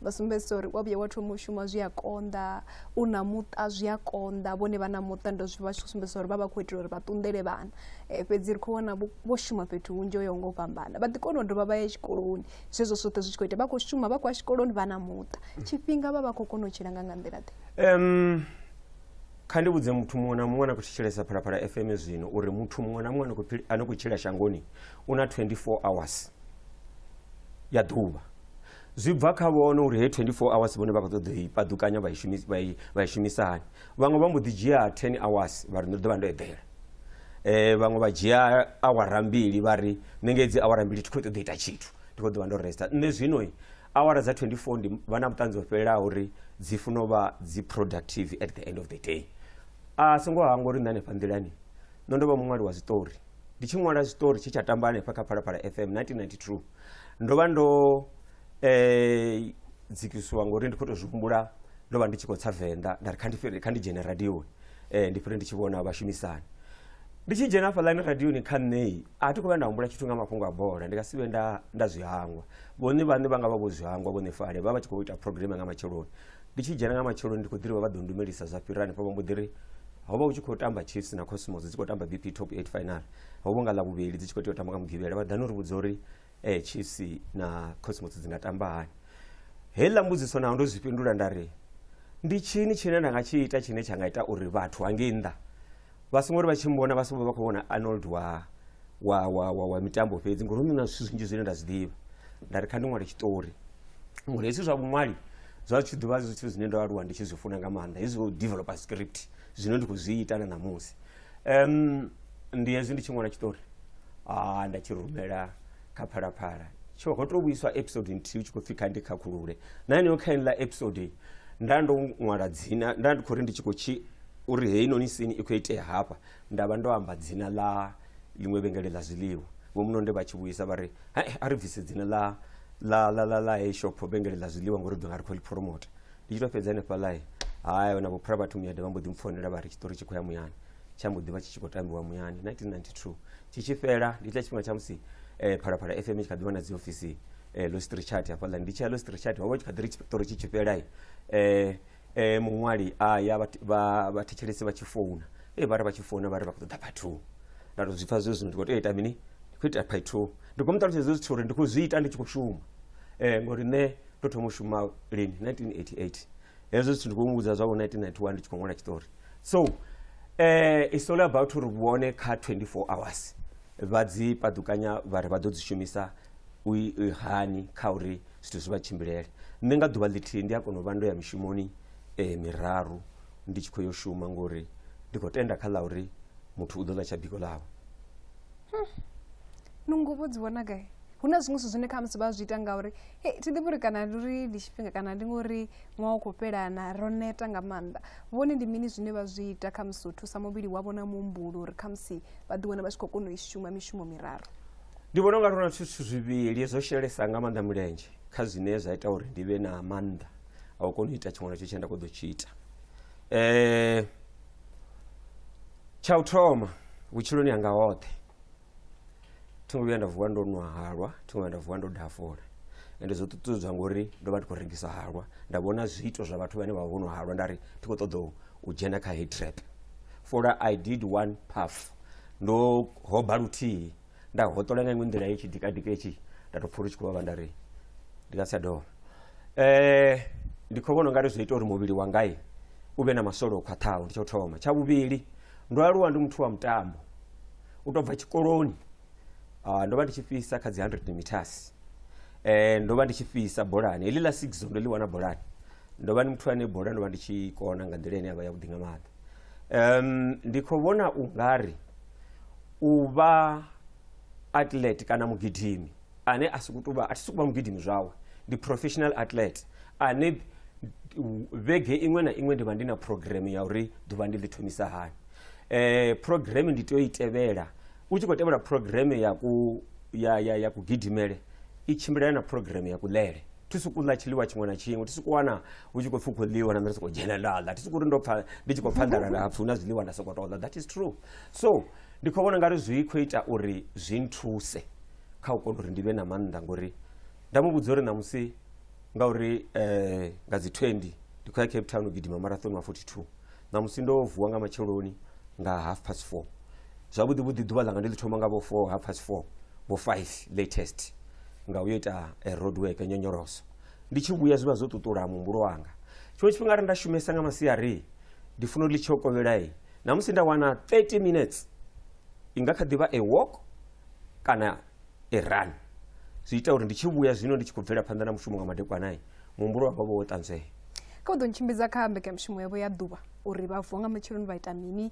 vha sumbedzisa uri wa vhuya wa thoma u shuma zwi a konḓa u na muṱa zwi a konḓa vhone vha na muṱa ndo zwi vha tshi khou sumbedzisa uri vha vha khou itela uri vha ṱunḓele vhana eh, fhedzi ri khou wana vho shuma fhethu hunzhi o yaho nga u fhambana vha ḓi kona u dovha vha ya tshikoloni zwezwo zwoṱhe zwi tshi khou ita vha khou shuma vha khou ya tshikoloni vha na muṱa tshifhinga vha vha khou kona u tshila nga nga nḓila ḓe um kha ndi vhudze muthu muṅwe na muṅwe na khou thetshelesa phalaphala fm zwino uri muthu muṅwe na muṅwe a no khou tshila shangoni u na 24 hours ya ḓuvha zwi bva kha vhone uri he 24 hours vhone vha khou ṱoḓa i paḓukanya vha i shumisa hani vhaṅwe vha mbo ḓi dzhia 10 hours vha ri ndo ḓo vha ndo eḓela um vhaṅwe vha dzhia awara mbili vha ri nṋe ngedzi awara mbili thi khou ṱoḓa ita tshithu ndi khou ḓo vha ndo resta nṋe zwino awara dza 24 ndi vha na vhuṱanzi ho fhelelaho uri dzi funa u vha dzi productive at the end of the day a songo hangwa uri nṋe hanefha nḓilani ndo ndo vha muṅwali wa zwiṱori ndi tshi ṅwala zwiṱori tshe tsha tamba hanefha kha phalaphala fm 1992 ndo vha ndo um dzikisiwa ngori ndi khou tou zwi humbula ndo vha ndi tshi khou tsa venḓa nda ri kha ndi fhire- kha ndi dzhene radioni um ndi fhire ndi tshi vhona vhashumisani ndi tshi dzhena hafhaḽani radioni kha nṋei a thi khou vha nda humbula tshithu nga mafhungo a bola ndi nga si vhe nda nda zwi hangwa vhone vhaṋe vha nga vha vho zwi hangwa vhone fale vha vha tshi khou ita programe nga matsheloni ndi tshi dzhena nga matsheloni ndi khou ḓirivha vha ḓo ndumelisa zwa fhira hanefho vha mbo ḓi ri ho vha hu tshi khou tamba chiefs na cosmos dzi khou tamba bp top 8 final ho vho nga ḽa vhuvhili dzi tshi khou tea u tamba nga mugivhela vha ḓani uri vhudza uri eh, chiefs na cosmos dzi nga tamba hani heiḽa mbudziso naho ndo zwi fhindula nda ri ndi tshini tshine nda nga tshi ita tshine tsha nga ita uri vhathu hangei nnḓa vha songo ri vha tshi mbona vha songo vha khou vhona arnold wa wa wa wa, wa mitambo fhedzi ngori hu na zwithu zwinzhi zwine nda zwi ḓivha nda ri kha ndi ṅwale tshiṱori ngori hezwi zwa vhuṅwali zwa tshi ḓivha zwithu zwine ndo aluwa ndi tshi zwi funa nga maanḓa hezwi u developer script zwine ndi khou zwi ita na ṋamusi um, ndi hezwi ndi tshi ṅwala tshiṱori a nda tshi rumela kha phalaphala tsho ho to vhuiswa episode nthihi u tshi khou pfhi kha ndi khakhulule na heneyo kha ine ḽa episode nda ndo ṅwala dzina nda ndi khou ri ndi tshi khou tshi uri heinoni sini i khou itea hafha nda vha ndo amba dzina ḽa ḽiṅwe vhengele ḽa zwiḽiwa vho munonde vha tshi vhuisa vha ri a ri bvise dzina ḽa la la la la hey shop vhengele ḽa zwiḽiwa ngori ḓo nga ri khou ḽi promote ndi tshi to fhedza hanefha ḽae haya vhana vhophura vhathu muyada vha mbo ḓi mpfonela vha ri tshiṱori tshi khou ya muyani tsha mbo ḓi vha tshi tshi khou tambiwa muyani 1992 tshi tshi fhela ndi tsha tshifhinga tsha musi um phalaphala fm i tshi kha ḓi vha na dziofisi um eh, lostri chat hafhaḽa ndi tshi ya lostri chat ho vha tshi kha ḓi ri tshiṱori tshi tshi fhela um eh, eh, muṅwali a ya vhathetshelesi vha tshi founa e vha ri vha tshi founa vha ri vha khou ṱoḓa phathu nda to zwi pfa zwe zwino ndi khou tea ita mini ndi khou ita phathu ndi khou mu ṱalutshedza zwithu uri ndi khou zwi ita ndi tshi khou shuma um ngori nṋe ndo thoma u shuma lini 1988 hezwo zwithu ndi khou muvhudza zwavho 1991 ndi tshi khou ṅwala tshiṱori so um it's all about uri vhone kha 24 hours vha dzi paḓukanya vha ri vha ḓo dzi shumisa u i- i hani kha uri zwithu zwi vha tshimbilele nṋe nga ḓuvha ḽithihi ndi a kona u vha ndo ya mishumoni um miraru ndi tshi khou yo shuma ngori ndi khou tenda kha ḽa uri muthu u ḓo ḽa tsha biko ḽawe hmm. nungo vho dzi vhona gai hu na zwiṅwe zwithu zwine kha musi vha zwi ita ngauri e thi ḓivhi uri kana ndi uri ndi tshifhinga kana ndi ngori ṅwaha u khou fhelana ro neta nga maanḓa vhone ndi mini zwine vha zwi ita kha musi u thusa muvhili wavho na muhumbulo uri kha musi vha ḓiwana vha tshi khou kona u i shuma mishumo miraru ndi vhona unga ri na zwithu zwivhili zwo shelesa nga maanḓa mulenzhe kha zwine zwa ita uri ndi vhe na maanḓa a u kona u ita tshiṅwe na tsho tshine nda kho ḓo tshi ita um tsha u thoma vhutshiloni hanga hoṱhe thingo vhuya nda vuwa ndo nwa halwa thingo vhuya nda vuwa ndo dafula ende zwo ṱuṱuwedzwa ngori ndo vha ndi khou rengisa halwa nda vhona zwiito zwa vhathu vhane vha vha vho nwa halwa nda ri thi khou ṱoḓa u dzhena kha heyi trap fola i did one puff ndo hoba luthihi nda hoṱola nga iṅwe nḓila itshi dikadika itshi nda to pfha uri tshi khou vhavha nda ri ndi nga si tsha dovha um ndi khou vhona ungari zwi ita uri muvhili wangai u vhe na masole o khwaṱhaho ndi tsho thoma tsha vhuvhili ndo aluwa ndi muthu wa mutambo u tou bva tshikoloni ah, ndo vha ndi tshi fhisa kha dzi 100 meters eh ndo vha ndi tshi fhisa bolani heḽi ḽa six ndo ḽi wana bolani ndo vha ndi muthu ane bola ndo vha ndi tshi kona nga nḓila ine ya vha yavhuḓi nga maanḓa um ndi khou vhona u nga ri u vha athlete kana mugidimi ane a sokou tovha a thi sokou vha mugidimi zwawe ndi professional athlete ane vhege iṅwe na iṅwe ndi vha ndi na program ya uri ḓuvha ndi ḽi thomisa hani eh program ndi tea u i tevhela u tshi khou tevhela program ya ku ya ya ya kugidimele i tshimbilelana na program ya kuḽele thi sokou ḽa tshiḽiwa tshiṅwe na tshiṅwe thi sokou wana hu tshi khou pfhi u khou ḽiwa na nṋe ndi sokou dzhena nda ḽa thi sokou ri ndo pfha ndi tshi khou pfha nḓala nda pfhi hu na zwiḽiwa nda sokou tou ḽa that is true so ndi khou vhona ngari zwi khou ita uri zwi nthuse kha u kona uri ndi vhe na maanḓa ngori nda mu vhudza uri ṋamusi ngauri um nga dzi twenty ndi khou ya cape town u gidima marathon wa forty two ṋamusi ndo vuwa nga matsheloni nga half past four zwavhuḓi vhuḓi ḓuvha ḽanga ndi ḽi thoma nga vho four half past four vho five latest nga u yo ita eh, road work nyonyoloso ndi tshi vhuya zwi vha zwo ṱuṱula muhumbulo wanga tshiṅwe tshifhinga arali nda shumesa nga masiari ndi funa u ḽi tsho kovhelai namusi nda wana 30 minutes i nga kha ḓivha a walk kana a run zwi ita uri ndi tshi vhuya zwino ndi tshi khou bvela phanḓa na mushumo nga madekwanai muhumbulo wanga vho wo ṱanzwea kha u ḓo ntshimbidza kha mbekanyamushumo yavho ya ḓuvha uri vha vuwa nga matsheloni vha ita mini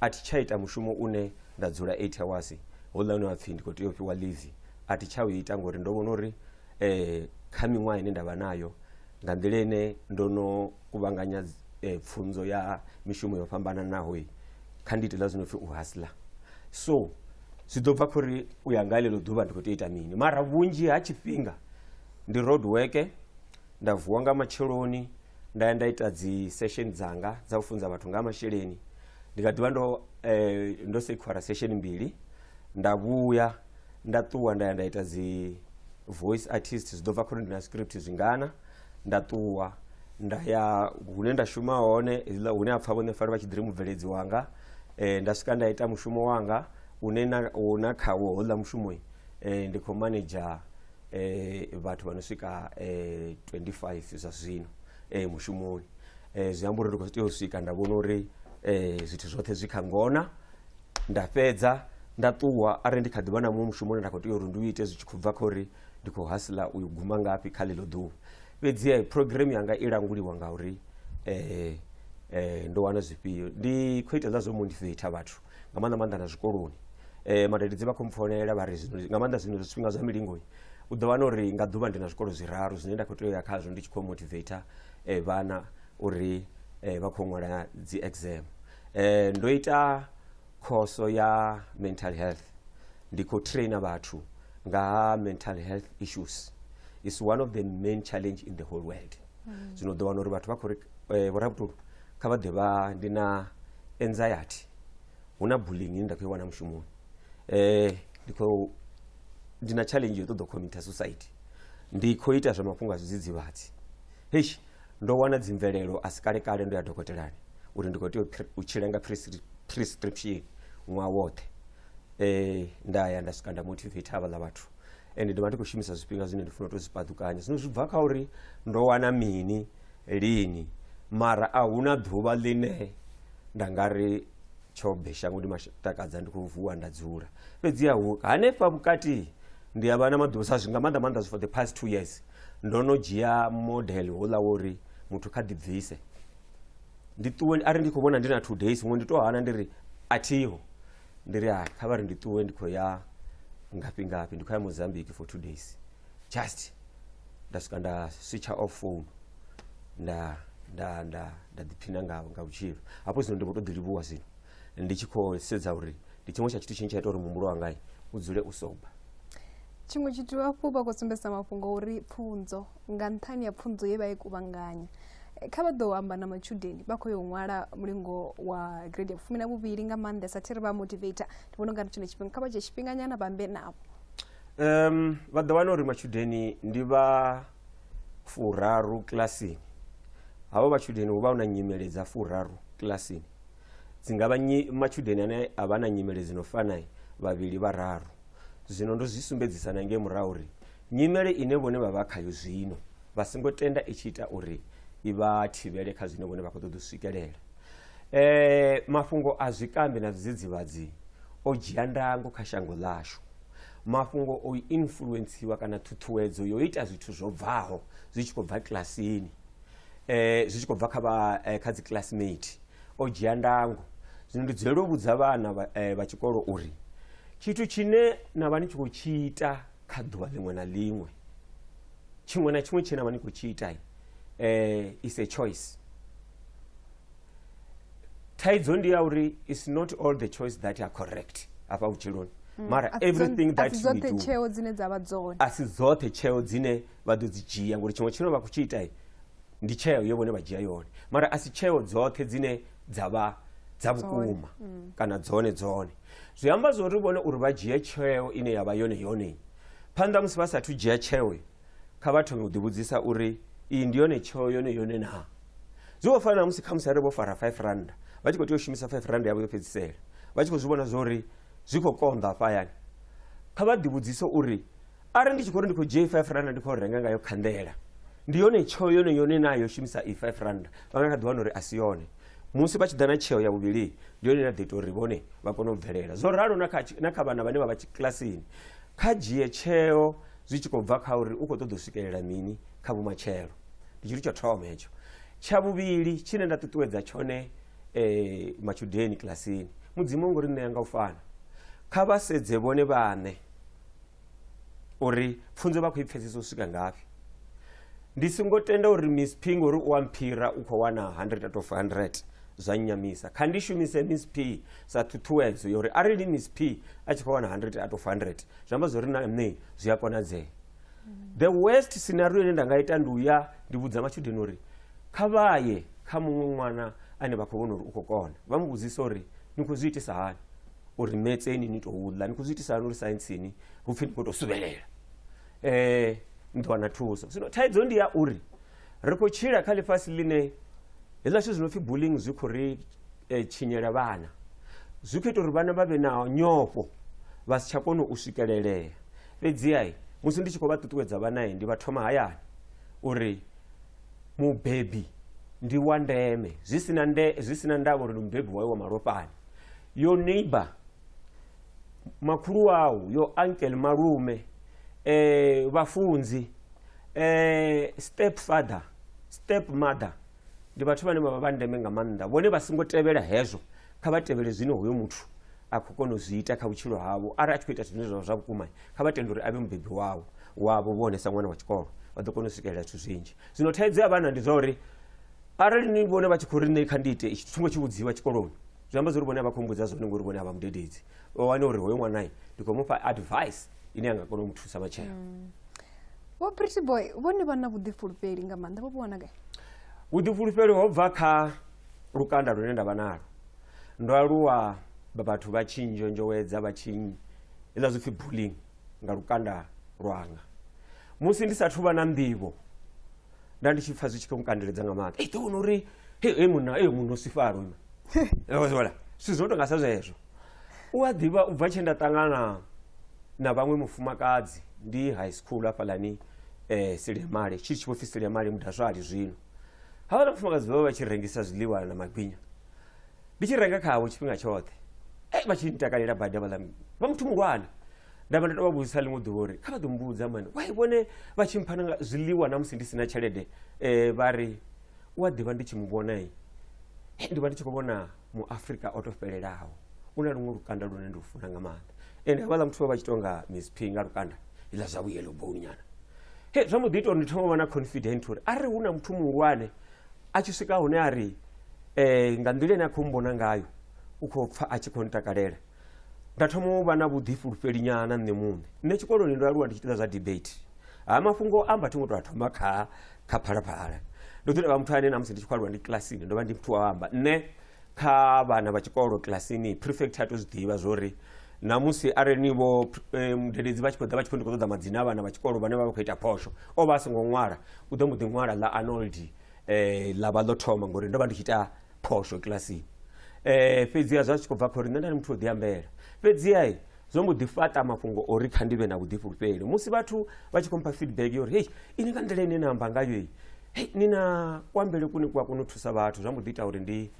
A thi tsha ita mushumo une nda dzula eight hawasi, houḽa une wa pfhi ndi khou tea u fhiwa ḽivi a thi tsha u ita ngori ndo vhona uri kha miṅwaha ine nda vha nayo nga nḓila ine ndo no kuvhanganya pfhunzo ya mishumo yo fhambananaho, kha ndi ite hezwiḽa zwi no pfhi u hustler. So zwi ḓo bva kha uri u ya nga ḽeḽo ḓuvha ndi khou tea u ita mini mara vhunzhi ha tshifhinga ndi road work, nda vuwa nga matsheloni. nda ya nda ita dzi session dzanga dza u funza vhathu nga masheleni ndi nga ḓivha ndo eh, ndo sekhwara session mbili nda vhuya nda ṱuwa nda ya nda ita dzi voice artist zwi ḓo bva khori ndi na script zwingana nda ṱuwa nda ya hune nda shuma hone hezwiḽa hune ha pfha vhone fari vha tshi ḓiri mubveledzi wanga eh, nda swika nda ita mushumo wanga une na, una khawo houḽa mushumo eh, ndi khou manager eh, vhathu vha no swika eh, 25 zwa zwino eh, mushumoni eh, zwi amba uri ndi khou tea u swika nda vhona uri eh, zwithu zwoṱhe zwi kha ngona nda fhedza nda ṱuwa arali ndi kha ḓivha na muṅwe mushumoni nda khou tea uri ndi u ite zwi tshi khou bva kha uri ndi khou hasila uyu guma ngafhi kha ḽeḽo ḓuvha fhedzi eh, program yanga i languliwa ngauri eh, eh, ndo wana zwifhio ndi khou ita zwa zwo motivator vhathu nga maanḓa maanḓa na zwikoloni um madededzi vha khou mpfonelela vha ri nga maanḓa zwino zwifhinga zwa milingoi u ḓo wana uri nga ḓuvha ndi na zwikolo zwiraru zwine nda khou tea uya khazwo ndi tshi khou motivator um vhana uri um vha khou ṅwala dzi exam um ndo ita khoso ya mental health ndi khou trainer vhathu nga ha mental health issues is one of the main challenge in the whole world zwino u ḓo wana uri vhathu vha khou ri eh, vhorabutulu kha vha ḓe vha ndi na anxiety hu na bullying ine nda khou i wana mushumoni um ndi khou ndi na challenge yo ṱoḓa u committer suicide ndi khou ita zwa mafhungo a zwidzidzivhadzi heish ndo wana dzimvelelo a si kale kale ndo ya dokotelani uri ndi khou tea u pre- u tshila nga prescri- prescription ṅwaha woṱhe um nda ya nda swika nda motivate havhaḽa vhathu ende ndovha ndi khou shumisa zwifhinga zwine ndi funa u to zwi paḓukanya zwino zwi bva kha uri ndo wana mini lini mara a huna ḓuvha ḽine nda nga ri tsho be shango ndi matakadza ndi khou vuwa nda dzula fhedziha hanefha vhukati ndi a vha na maḓuvha sa zwi nga maanḓa maanḓa zwi for the past two years ndo no dzhia model houḽa wo uri muthu kha ḓibvise ndi ṱuwe ari ndi khou vhona ndi na two days muṅwe ndi to hana ndi ri a thiho ndi ri hai kha vha ri ndi ṱuwe ndi khou ya ngafhi ngafhi ndi khou ya mozambique for two days just nda swika nda switcha off phone nda nda nda nda ḓiphina nga nga vhutshilo hafho zwino ndi vho to ḓi livhuwa zwino ndi tshi khou sedza uri ndi tshiṅwe tsha tshithu tshine tsha ita uri muhumbulo wangai u dzule u soba tshiṅwe tshithu hafhu vha khou sumbedzisa mafhungo uri pfunzo nga nṱhani ya pfunzo ye vha i kuvhanganya eh, kha vha ḓo amba na matshudeni vha khou yo ṅwala mulingo wa grade ya fumi na vhuvhili nga maanḓesa thi ri vha motivator ndi vhona ungari tshone tshifhinga kha vha dzhie tshifhinganyana vhambe navho um vha ḓo wana uri matshudeni ndi vha furaru kilasini havho matshudeni hu vha hu na nyimele dza furaru kilasini dzi nga vha matshudeni ane a vha na nyimele dzi no fanai vhavhili vhararu zwino ndo zwi sumbedzisa na ngei murahu uri Nyimele ine vhone vha vha khayo zwino vha songo tenda i tshi ita uri i vha thivhele kha zwine vhone vha khou ṱoḓa u swikelela. E, mafhungo a zwikambi na zwidzidzivhadzi o dzhia ndango kha shango ḽashu. Mafhungo o influensiwa kana ṱhuṱhuwedzo yo ita zwithu zwo bvaho zwi tshi khou bva kilasini eh, zwi tshi khou bva kha vha eh, kha dzi classmate o dzhia ndango zwino ndi dzulela u vhudza vhana vha eh, vha tshikolo uri tshithu tshine na vha ni tshi khou tshi ita kha ḓuvha ḽiṅwe na ḽiṅwe tshiṅwe na tshiṅwe tshine na vha ni khou tshi ita eh, is a choice thaidzo ndi ya uri is not all the choice that are correct afha vhutshiloni mm. mara everything that we do tsheo dzine dza vha dzone a si dzoṱhe tsheo dzine vha ḓo dzi dzhia ngori tshiṅwe tshine vha khou tshi ita ndi tsheo yo vhone vha dzhia yone mara a si tsheo dzoṱhe dzine dza vha dza vhukuma mm. kana dzone dzone zwi amba zwo ri vhone uri vha dzhie tsheo ine ya vha yone yone phanḓa musi vha sathu dzhia tsheo kha vha thome u ḓivhudzisa uri iyi ndi yone tsheo yone yone naa zwi vho fana na musi khamusi ari vho fara 5 randa vha tshi khou tea u shumisa 5 randa yavho yo fhedzisela vha tshi khou zwi vhona zwo ri zwi khou konḓa afha hayani kha vha ḓivhudzise uri arali ndi tshi khou ri ndi khou dzhia i-five randa ndi khou renga ngayo khanḓela ndi yone tsheo yone yone naa yo shumisa i-five randa vha nga kha ḓi wana uri a si yone musi vha tshi ḓa na tsheo ya vhuvhili ndi yone ine a ḓo ita uri vhone vha kone u bvelela zwo ralo na kha, na kha vhana vhane vha vha kilasini kha dzhie tsheo zwi tshi khou bva kha uri u khou ṱoḓa u swikelela mini kha vhumatshelo ndi tshithu tsho thoma hetsho tsha vhuvhili tshine nda ṱuṱuwedza tshone eh, matshudeni kilasini mudzimu ngori ṋea nga u fana kha vha sedze vhone vhaṋe uri pfunzo vha khou i pfesesa u swika ngafhi ndi songo tenda uri miss p ngori u wa mphira u khou wana 100 out of 100 zwa nnyamisa kha ndi shumise miss p sa ṱhuṱhuwedzo yori arali miss p a tshi khou wana 100 out of 100 zwi amba zwori na nṋe zwi a konadzea the worst scenario ine nda nga ita ndi uya ndi vhudza matshudeni uri kha vha ye kha muṅwe ṅwana ane vha khou vhona uri u khou kona vha mu vhudzisa uri ni khou zwi itisa hani uri metse ini ni tou ḽa ni khou zwi itisa hani uri saintsini hu pfhi ni khou tou suvhelela um eh, ni ḓo wana thuso zwino thaidzo ndi ya uri ri khou tshila kha ḽifhasi ḽine hezwiḽa zwithu zwi no pfhi bulling zwi khou ri um tshinyela vhana zwi khou ita uri vhana vha vhe na nyofho vha si tsha kona u swikelelea fhedziha musi ndi tshi khou vha ṱuṱuwedza vhanae ndi vha thoma hayani uri mubebi ndi wa ndeme zwi sina nde zwi sina ndavha uri ndi mubebi wayo wa malofhani yo neighbor makhulu au yo uncle malume eh vhafunzi eh step father step mother ndi vhathu vhane vha vha ndeme nga maanḓa vhone vha songo tevhela hezwo kha vha tevhele zwine hoyo muthu a khou kona u zwi ita kha vhutshilo havho arali a tshi khou ita zwine zwa zwa vhukuma kha vha tende uri a vhe mubebi wavho wavho vhone sa ṅwana wa tshikolo vha ḓo kona u swikelela zwithu zwinzhi zwino thaidzo ya vhana ndi zwa uri arali ni vhone vha tshi khou ri nṋe kha ndi ite itshi tshingo tshi vhudziwa tshikoloni zwi amba zwori vhone a vha khou mbudza zwone ngori vhone a vha mudededzi vha wane uri hoyo ṅwanai ndi khou mufha advice ine a nga kona u mu thusa matshelo mm. vho pretty boy vhone vha na vhuḓifulufheli nga maanḓa vho vhuwana gai vhuḓifulufheli ho bva kha lukanda lune nda vha nalo ndo aluwa vhathu vha tshi nzhonzhowedza vha tshi hezwiḽa zwipfi bullying nga lukanda lwanga musi ndi sathu vha na nḓivho nda ndi tshi pfa zwi tshi khou nkandeledza nga maanḓa ei ḓowona uri e munna e munna o sifalo ima ola zwithu zwi no tonga sa zwezwo u a ḓivha u bva tshe nda ṱangana na vhaṅwe mufumakadzi ndi high school hafhalani um eh, silemale tshi tshi vho pfi silemale mudazwali zwino havhala mufumakadzi vha vha vha tshi rengisa zwiḽiwa na magwinya ndi tshi renga khavho tshifhinga tshoṱhe e vha tshi ntakalela badi avhaḽa vha muthu muhulwane nda vha nda tou vha vhudzisa ḽiṅwe ḓuvha uri kha vha ḓo mbudza mani wai vhone vha tshi mpha nanga zwiḽiwa na musi ndi si na tshelede um vha ri u a ḓivha ndi tshi mu vhonai eh, ndi vha ndi tshi khou vhona muafrika o to fhelelaho u na luṅwe lukanda lune ndi u funa nga maanḓa ende havhaḽa muthu vha vha tshi tonga miss p nga lukanda iḽa zwa vhuyelo bounyana he zwa mbo ḓi ita uri ndi thoma vha na confident uri arali hu na muthu muhulwane a tshi swika hune a ri eh, nga nḓila ine a khou mbona ngayo u khou pfa a tshi khou ntakalela nda thoma u vha na vhuḓifulufheli nyana nṋe muṋe nṋe tshikoloni ndo aluwa ndi tshi ita zwa debate ha mafhungo amba thi ngo tou a thoma kha kha phalaphala ndo ḓi tovha muthu ane namusi ndi tshi khou aluwa ndi kilasini ndo vha ndi muthu wa amba nṋe kha vhana vha tshikolo kilasini prefect a to zwi ḓivha zwori namusi arali ni vho eh, mudededzi vha tshi khou ḓa vha tshi khou ndi khou ṱoḓa madzina a vhana vha tshikolo vhane vha vha khou ita phosho o vha a songo ṅwala u ḓo mbo ḓi ṅwala ḽa arnold um eh, ḽa vha ḽo thoma ngori ndo vha ndi tshi ita phosho kilasini um eh, fhedziha zwa tshi khou bva kha uri nṋe nda ndi muthu o ḓiambela fhedziha zwo mbo ḓi fhaṱa mafhungo ori kha ndi vhe na vhuḓifhulufheli musi vhathu vha tshi khou mpha feedback yo uri hei ini nga nḓila ine na amba ngayo i hei ni na kuambele kune ku a kona u thusa vhathu zwa mbo ḓi ita uri ndi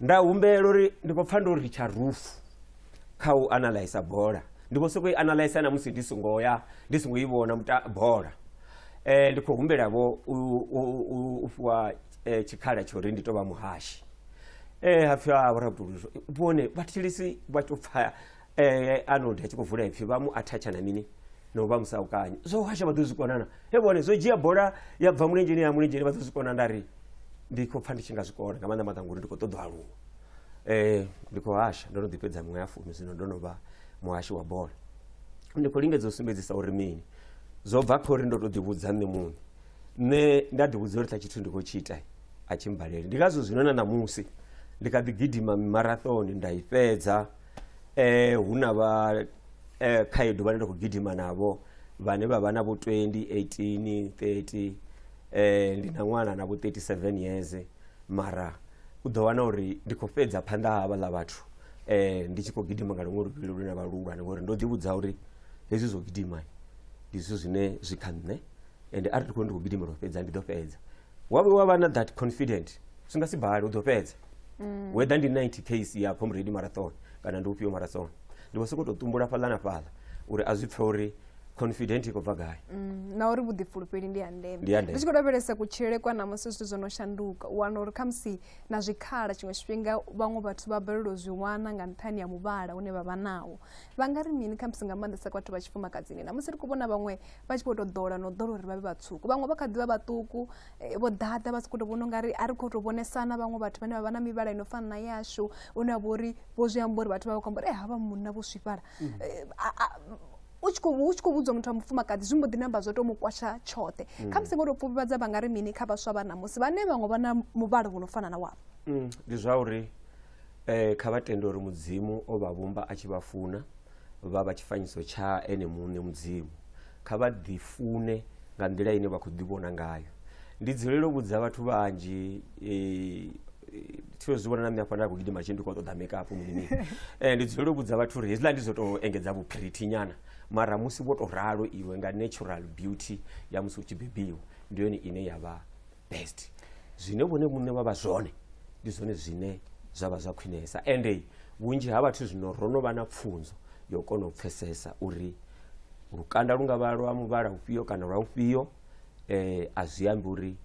nda humbela uri ndi khou pfa ndo ri tsha rufu kha u analysa bola ndi khou sokou i analysa na musi ndi songo ya ndi songo i vhona bola um ndi khou humbela vho u fhiwa eh, tshikhala tsha uri ndi tou vha muhashi um ha pfhi a vhorabuduluso vhone vhathilisi vha tou pfa eh, arnold a tshi khou vula ipfi vha mu athatsha na mini no vha musaukanyi zwo hasha vha ḓo zwi konana he vhone zwo dzhia bola ya bva mulenzheni ya mulenzheni vha ḓo zwi kona nda ri ndi khou pfa ndi tshi nga zwi kona nga maanḓa maanḓa ngori ndi khou ṱoḓa aluwa um ndi khou hasha ndo no ḓi fhedza miṅwe ya fumi zwino ndo no vha muhashi wa bola ndi khou lingedza u sumbedzisa uri mini zwo bva kha uri ndo tou ḓivhudza nṋe muṋe nṋe nda ḓivhudza uri ṱa tshithu ndi khou tshi ita a tshi mbalele ndi ngazwo zwino na ṋamusi ndi kha ḓi gidima mimarathoni nda i fhedza eh hu na vha eh, khaedu vhane nda khou gidima navho vhane vha vha na vho 20 18 30 eh ndi na ṅwana na vho 37 years mara u ḓo wana uri ndi khou fhedza phanḓa ha havhaḽa vhathu eh ndi tshi khou gidima nga luṅwe luvhilo lune vha luhulwane ngori ndo ḓivhudza uri hezwi zwo gidima ndi zwithu zwine zwi kha nṋe ende arali ndi khou ndi khou gidimela u fhedza ndi ḓo fhedza wa vhuya wa vha na that confident zwi nga si bale u ḓo fhedza mm. whether ndi 90 case ya comrade marathon kana ndi ufhio marathon ndi vho sokou tou tumbula fhaḽa na fhaḽa uri a zwi pfhe uri confident i khou bva gai mm, na uri vhuḓifulufheli ndi ya ndeme ndi tshi khou lavhelesa kutshilele kwa namusi zwithu zwo no shanduka u wana uri khamusi na zwikhala tshiṅwe tshifhinga vhaṅwe vhathu vha balelwa zwi wana nga nṱhani ya muvhala une vha vha nawo vha nga ri mini khamusi nga maanḓesa kwa vhathu vha tshifumakadzini namusi ri khou vhona vhaṅwe vha tshi vho tou ḓola no ḓola uri vha vhe vhatswuku vhaṅwe vha kha ḓi vha vhaṱuku eh, vho ḓaḓa vha si khou tou vhona ungari a ri khou tou vhonesana vhaṅwe vhathu vhane vha vha na mivhala ino fana na yashu une vha uri vho zwi amba uri vhathu vha vha khou amba uri e eh, havha munna vho swifhala mm. eh, u tshi khou vhudzwa muthu wa mufumakadzi zwi mbo ḓi namba zwo tou mu kwasha tshoṱhe mm. kha musi ngo tou pfufhifhadza vha nga ri mini kha vhaswa vha ṋamusi vhane vhaṅwe vha na muvhala vho no fana na wavho mm, ndi zwa uri um kha vha tende uri mudzimu o vha vhumba a tshi vha funa vha vha tshifanyiso tsha ene muṋe Mudzimu. Kha vha ḓifune nga nḓila ine vha khou ḓivhona ngayo. Ndi dzulela u vhudza vhathu vhanzhi thi zwi vhona na nṋe hafha nda khou gidima tshi ndi khou ṱoḓa makeup mini ndi dzulela u vhudza vhathu uri hezwiḽa ndi zwo tou engedza vhuphirithi nyana mara musi vho tou ralo iwe nga natural beauty ya musi u tshi bebiwa ndi yone ine ya vha best zwine vhone vhune vha vha zwone ndi zwone zwine zwa vha zwa khwinesa ende vhunzhi ha vhathu zwino ro no vha na pfunzo yo kona u pfesesa uri lukanda lu nga vha lwa muvhala ufhio kana lwa ufhio um eh, a zwi ambi uri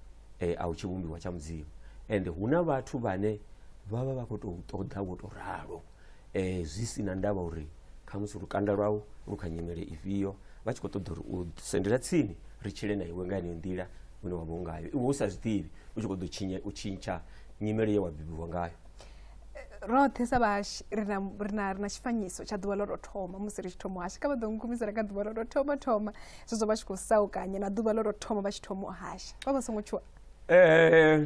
um a u tshi vhumbiwa tsha mudzimu ende hu na vhathu vhane vha vha vha khou tou ṱoḓa wo tou ralo um zwi si na ndavha uri khamusi lukanda lwau lu kha nyimele ifhio vha tshi khou ṱoḓa uri u sendela tsini ri tshile na iwe nga yeneyo nḓila une wa vha u ngayo iwe u sa zwi ḓivhi u tshi khou ḓo tshinya u tshintsha nyimelo ye wa bebiwa ngayo roṱhe sa vhahashi ri na ri na ri na tshifanyiso tsha ḓuvha ḽo tou thoma musi ri tshi thoma u hasha kha vha ḓo nkumisela nga ḓuvha ḽo tou thoma thoma zwezwo vha tshi khou saukanya na ḓuvha ḽo tou thoma vha tshi thoma u hasha vha vha songo tshuwa Eh,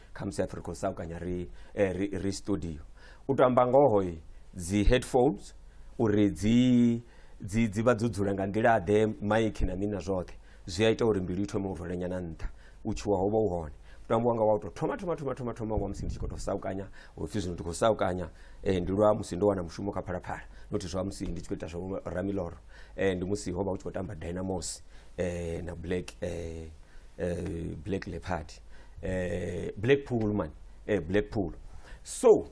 khamusi hapfi ri khou saukanya ri, eh, ri, ri studio u tou amba ngoho dzi headphones uri dzi dzi dzi vha dzo dzula nga nḓila ḓe maiki na mini na zwoṱhe zwi a ita uri mbilu i thome u rwelenyana nṱha u tshuwa ho vha u hone mutambo wanga wa u tou thoma thoma thoma thoma thoma wa musi ndi tshi khou tou saukanya upfhi zwino ndi khou saukanya um ndi lwa musi ndo wana mushumo kha phalaphala nothi zwa musi ndi tshi khou ita zwa ramiloro um ndi musi ho vha u tshi khou tamba dynamos um na black um black leopard eh, blackpool man eh, blackpool so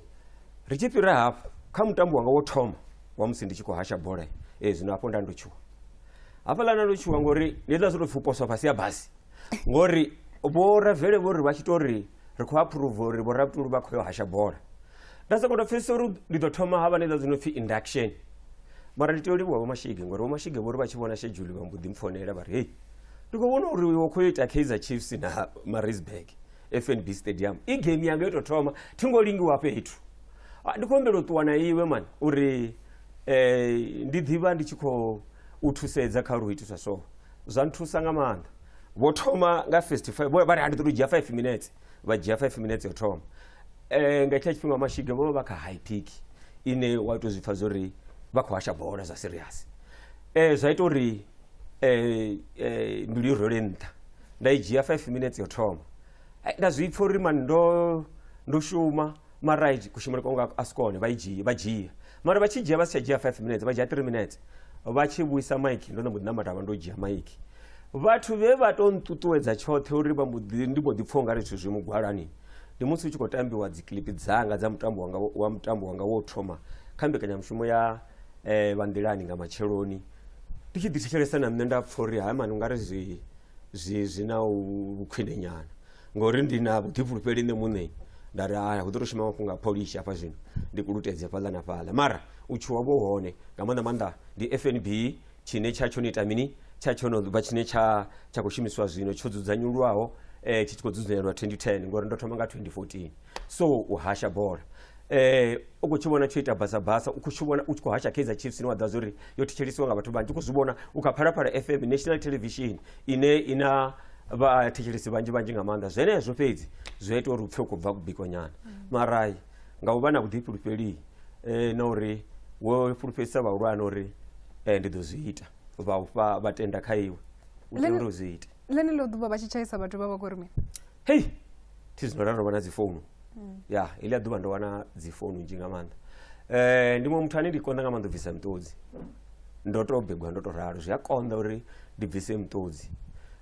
ri tshi fhira hafho kha mutambo wanga wo thoma wa musi ndi tshi khou hasha bola e zwino hafho nda ndo tshuwa hafhaḽa nda ndo tshuwa ngori ndi ḽa zwo tou pfhi u poswa fhasi ya basi ngori vho ravele vho ri vha tshi tou ri ri khou aphuruva uri vho rabutulu vha khou yo hasha bola nda soko to pfesesa uri ndi ḓo thoma ha vha na iḽa dzi no pfhi induction mara ndi tea u livhuwa vhomashige ngori vhomashige vho ri vha tshi vhona shedzhuli vha mbo ḓi mpfonela vha ri hei ndi khou vhona uri wo khou yo ita kaizer chiefs na marisburg fnb stadium i game yanga yo tou thoma thi ngo lingiwa fhethu Ah, ndi khou humbela u ṱuwa na iwe mani uri um ndi ḓivha ndi tshi khou u thusedza kha uri u itiswa so zwa nthusa nga maanḓa vho thoma nga first five vho- vha ri a ndi ḓo to dzhia five minutes vha dzhia five minutes ya u thoma Eh, nga hetsha tshifhinga mashiga vho vha vha kha high peak ine wa tou zwi pfa zwo ri vha khou hasha bola zwa serious eh, zwa ita uri eh, eh, mbilu i role nṱha nda i dzhia five minutes yo thoma Ai, nda zwi pfa uri mani ndo ndo shuma mara ai, kushumele kwanga a si kone vha i dzhia vha dzhia mara vha tshi dzhia vha si tsha dzhia five minutes vha dzhia three minutes vha tshi vhuisa maiki ndo no mbo ḓi namata vha ndo dzhia maiki vhathu vhe vha tou nṱuṱuwedza tshoṱhe uri vha mbo ḓi- ndi mbo ḓi pfha ungari zwithu zwi mugwalani ndi musi hu tshi khou tambiwa dzikilipi dzanga dza mutambo wanga wa mutambo wanga wo thoma kha mbekanyamushumo ya eh, vha nḓilani nga matsheloni ndi tshi ḓithetshelesa na nṋe nda pfha uri haya mani ungari zwi zwi zwi na u- vhukhwine nyana ngori ndi na vhuḓifhulufheli nṋe muṋe nda ri haya hu ḓo tou shuma mafhungo a pholishi hafha zwino ndi kulutedze fhaḽa na fhaḽa mara u tshuwa vho hone nga maanḓa maanḓa ndi fnb tshine tsha tsho no ita mini tsha tsho no vha tshine tsha tsha khou shumisiwa zwino tsho dzudzanyulwaho eh, tshi tshi khou dzudzanyelwa 2010 ngori ndo thoma nga 2014 so u hasha bola eh u khou tshi vhona tsho ita basa basa u khou tshi vhona u tshi khou hasha kaizer chiefs ine wa ḓa zwori yo thetshelisiwa nga vhathu vhanzhi u khou zwi vhona u kha phalaphala fm national television ine ina vhathetshelesi vhanzhi vhanzhi nga maanḓa zwenezwo fhedzi zwi a ita uri u pfhe u khou bva kubikonyana mara nga u vha na vhuḓifhulufheli eh, na uri wo fhulufhedzisa vhahulwane uri eh, ndi ḓo zwi ita vha u fha vha tenda kha iwe u tea Lini- uri u zwi ite ḽeneḽo ḓuvha vha tshi tshaisa vhathu vha vha khou ri mini hei thi zwino ra ndo vha na dzifounu ya iḽi a ḓuvha ndo wana dzifounu nzhi nga maanḓa um ndi muṅwe muthu ane ndi konḓa nga maanḓa u bvisa miṱodzi ndo to begwa ndo to ralo zwi a konḓa uri ndi bvise miṱodzi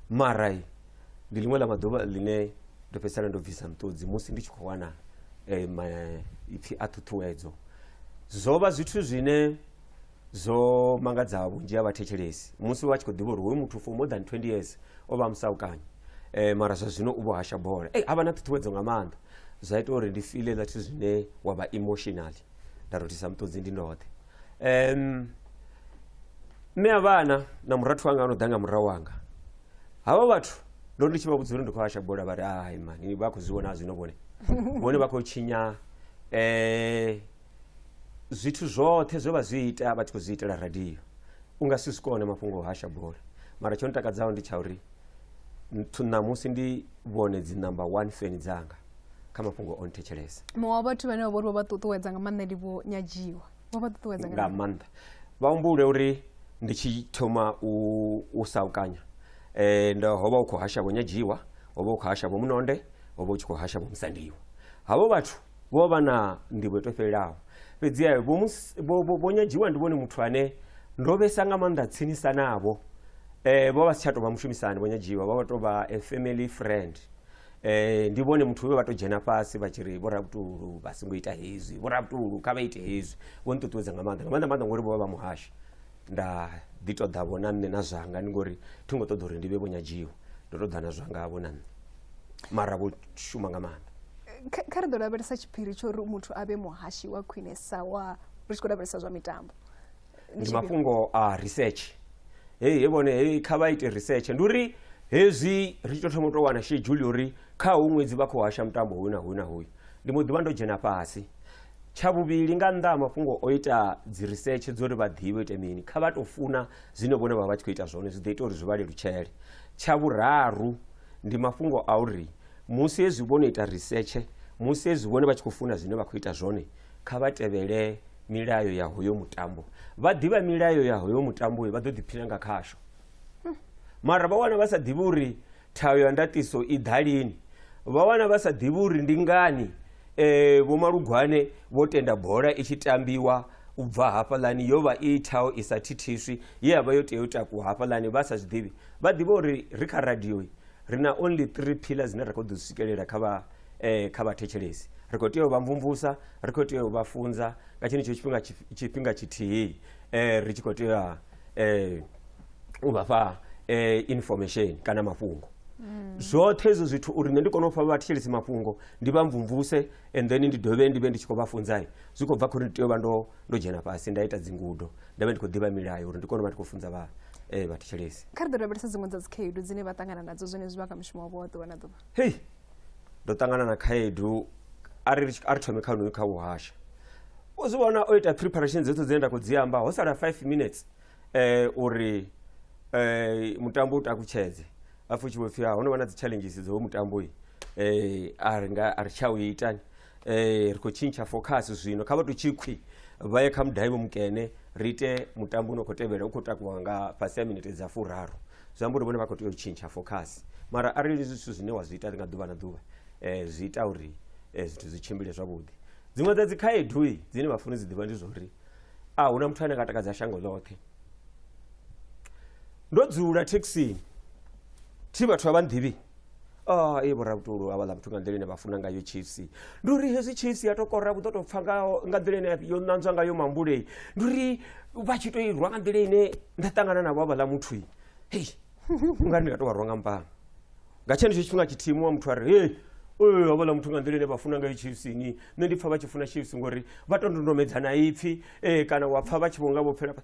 mara Ndi ḽiṅwe ḽa maḓuvha ḽine ndo fhedzisela ndo bvisa nṱudzi musi ndi tshi khou wana eh, maipfi a ṱhuṱhuwedzo zwo vha zwithu zwine zwo mangadza vhunzhi ha vhathetshelesi musi vha tshi khou ḓivha uri hoyu muthu for more than 20 years o vha musaukanye eh, mara zwa zwino u vho hasha bola hey, a vha na ṱhuṱhuwedzo nga maanḓa zwa ita uri ndi file ḽa zwithu zwine wa vha emotionally nda rothisa muṱudzi ndi ndoṱhe um, mme a vhana na murathu wanga ano ḓa nga murahu wanga havha vhathu ndo ndi tshi vha vhudza uri ndi khou hasha bola vha ri hai mani vha khou zwi vhona zwino vhone vhone vha khou tshinya um zwithu zwoṱhe zwe vha zwi ita vha tshi khou zwi itela radio u nga si zwi kone mafhungo o hasha bola mara tsho ntakadzaho ndi tsha uri ṋamusi ndi vhone dzi number one feni dzanga kha mafhungo o nthetshelesa muṅwe wa vhathu vhane vha vhori vho vha ṱuṱuwedza nga maanḓa ndi vho nyadziwa vho vha ṱuṱuwedza nga nga maanḓa vha humbule uri ndi tshi thoma u u saukanya eh ndo ho vha u khou hasha vho nyadziwa ho vha u khou hasha vho munonde ho vha u tshi khou hasha vho musandiwa havho vhathu vho vha na ndivho yo to fhelelaho fhedzi eh, vho Mus- vho- vho- vho nyadziwa ndi vhone muthu ane ndo vhesa nga maanḓa tsinisa navho eh vho vha si tsha tou vha mushumisani vho nyadziwa vho vha tou vha a family friend Eh, ndi vhone muthu vhe vha to dzhena fhasi vha tshi ri vho rabutulu vha songo ita hezwi vho rabutulu kha vha ite hezwi vho ni ṱuṱuwedza nga maanḓa nga maanḓa maanḓa ngori vho vha vha muhashi nda ḓi to ḓa vho na nṋe na zwanga ndi ngori thi ngo ṱoḓa uri ndi vhe vho nyadziwa ndo to ḓa na zwanga vho na nṋe mara vho shuma nga maanḓa Kha- kha ri ḓo lavhelesa tshiphiri tsho ri muthu a vhe muhashi wa khwinesa wa ri tshi khou lavhelesa zwa mitambo ndi mafhungo a research heyi he vhone heyi kha vha ite research ndi uri hezwi ri tshi to thoma u to wana shedzhuli uri kha hu ṅwedzi vha khou hasha mutambo hoyu na hoyu na hoyu ndi mbo ḓivha ndo dzhena fhasi tsha vhuvhili nga nnḓa ha mafhungo o ita dzi research dzo ri vha ḓivhe ite mini kha vha to funa zwine vhone vha vha tshi khou ita zwone zwi ḓo ita uri zwi vha lelutshele tsha vhuraru ndi mafhungo a uri musi hezwi vhono ita research musi hezwi vhone vha tshi khou funa zwine vha khou ita zwone kha vha tevhele milayo ya hoyo mutambo vha ḓivha milayo ya hoyo mutambo vha ḓo ḓiphina nga khasho hmm. mara vha wana vha sa ḓivhi uri thayo ya ndatiso i ḓa lini vha wana vha sa ḓivhi uri ndi ngani um vho malugwane vho tenda bola i tshi tambiwa u bva hafhaḽani yo vha i thaho i sa thithiswi ye ya vha yo tea u takuwa hafhaḽani vha sa zwi ḓivhi vha ḓivha uri ri kha radioi Ri na only three pillar dzine ra khou ḓo dzi swikelela kha vha eh, kha vhathetshelesi ri khou tea u vha mvumvusa ri khou tea u vha funza nga tshenetsho tshifhinga tshif- tshifhinga tshithihi eh, ri tshi khou tea eh, u vha fha eh, information kana mafhungo zwoṱhe hezwo zwithu uri nṋe ndi kone u fha vhathetshelesi mafhungo ndi vha mvumvuse and then ndi dovhe ndi vhe ndi tshi khou vha funzai zwi khou bva khori ndi tea u vha ndo ndo dzhena fhasi nda ita dzingudo nda vha ndi khou ḓivha milayo uri ndi kone u vha ndi khou funza vha eh, vhathetshelesi kha ri ḓo lavhelesa dziṅwe dza dzikhaedu dzine vha ṱangana nadzo zwenezwi vha kha mushumo wavho wa ḓuvha na ḓuvha hei ndo ṱangana na khaedu a ri a ri thome kha unoyu kha uhasha u zwi vhona o ita preparation dzoṱhe dzine nda khou dzi amba ho sala 5 minutes eh, uri eh, mutambo u takutshedze a futshiwe pfhi ha ho no vha na dzi-challenges dzo mutambo yi eh, a ri nga a ri tsha u itani eh, ri khou tshintsha focus zwino kha vha tou tshikhwi vha ye kha mudaibo mukene ri ite mutambo une u khou tevhela u khou takuwa nga fhasi ha minete dza furaru zwi amba uri vhone vha khou tea u tshintsha focus mara arali zwithu zwine wa zwi ita nga ḓuvha na ḓuvha eh, zwi ita uri eh, zwithu zwi tshimbile zwavhuḓi dziṅwe dza dzikhaedu i dzine vha funa dzi ḓivha ndi zwa uri a hu na muthu ane nga takadza shango ḽoṱhe ndo dzula thekhisini thi vhathu a vha nḓivhi Ah, ee vhorabutulu havhaḽa vhathu nga nḓila ine vha funa ngayo chiefs ndi uri hezwi chiefs ya tokora vhu ḓo tou pfa ngaho nga nḓila ine yo ṋanzwa ngayo mambulei ndi uri vha tshi tou irwa nga nḓila ine nda ṱangana navho havhaḽa muthu i hei u nga ri ndi nga tou vha rwa nga mpanga nga tshenetsho tshifhinga tshithihi muṅwe muthu a ri hei ee havhaḽa muthu nga nḓila ine vha funa ngayo chiefs ni nṋe ndi pfa vha tshi funa chiefs ngori vha to ndondomedza na ipfhi ee kana wa pfa vha tshi vho nga vho fhela pa-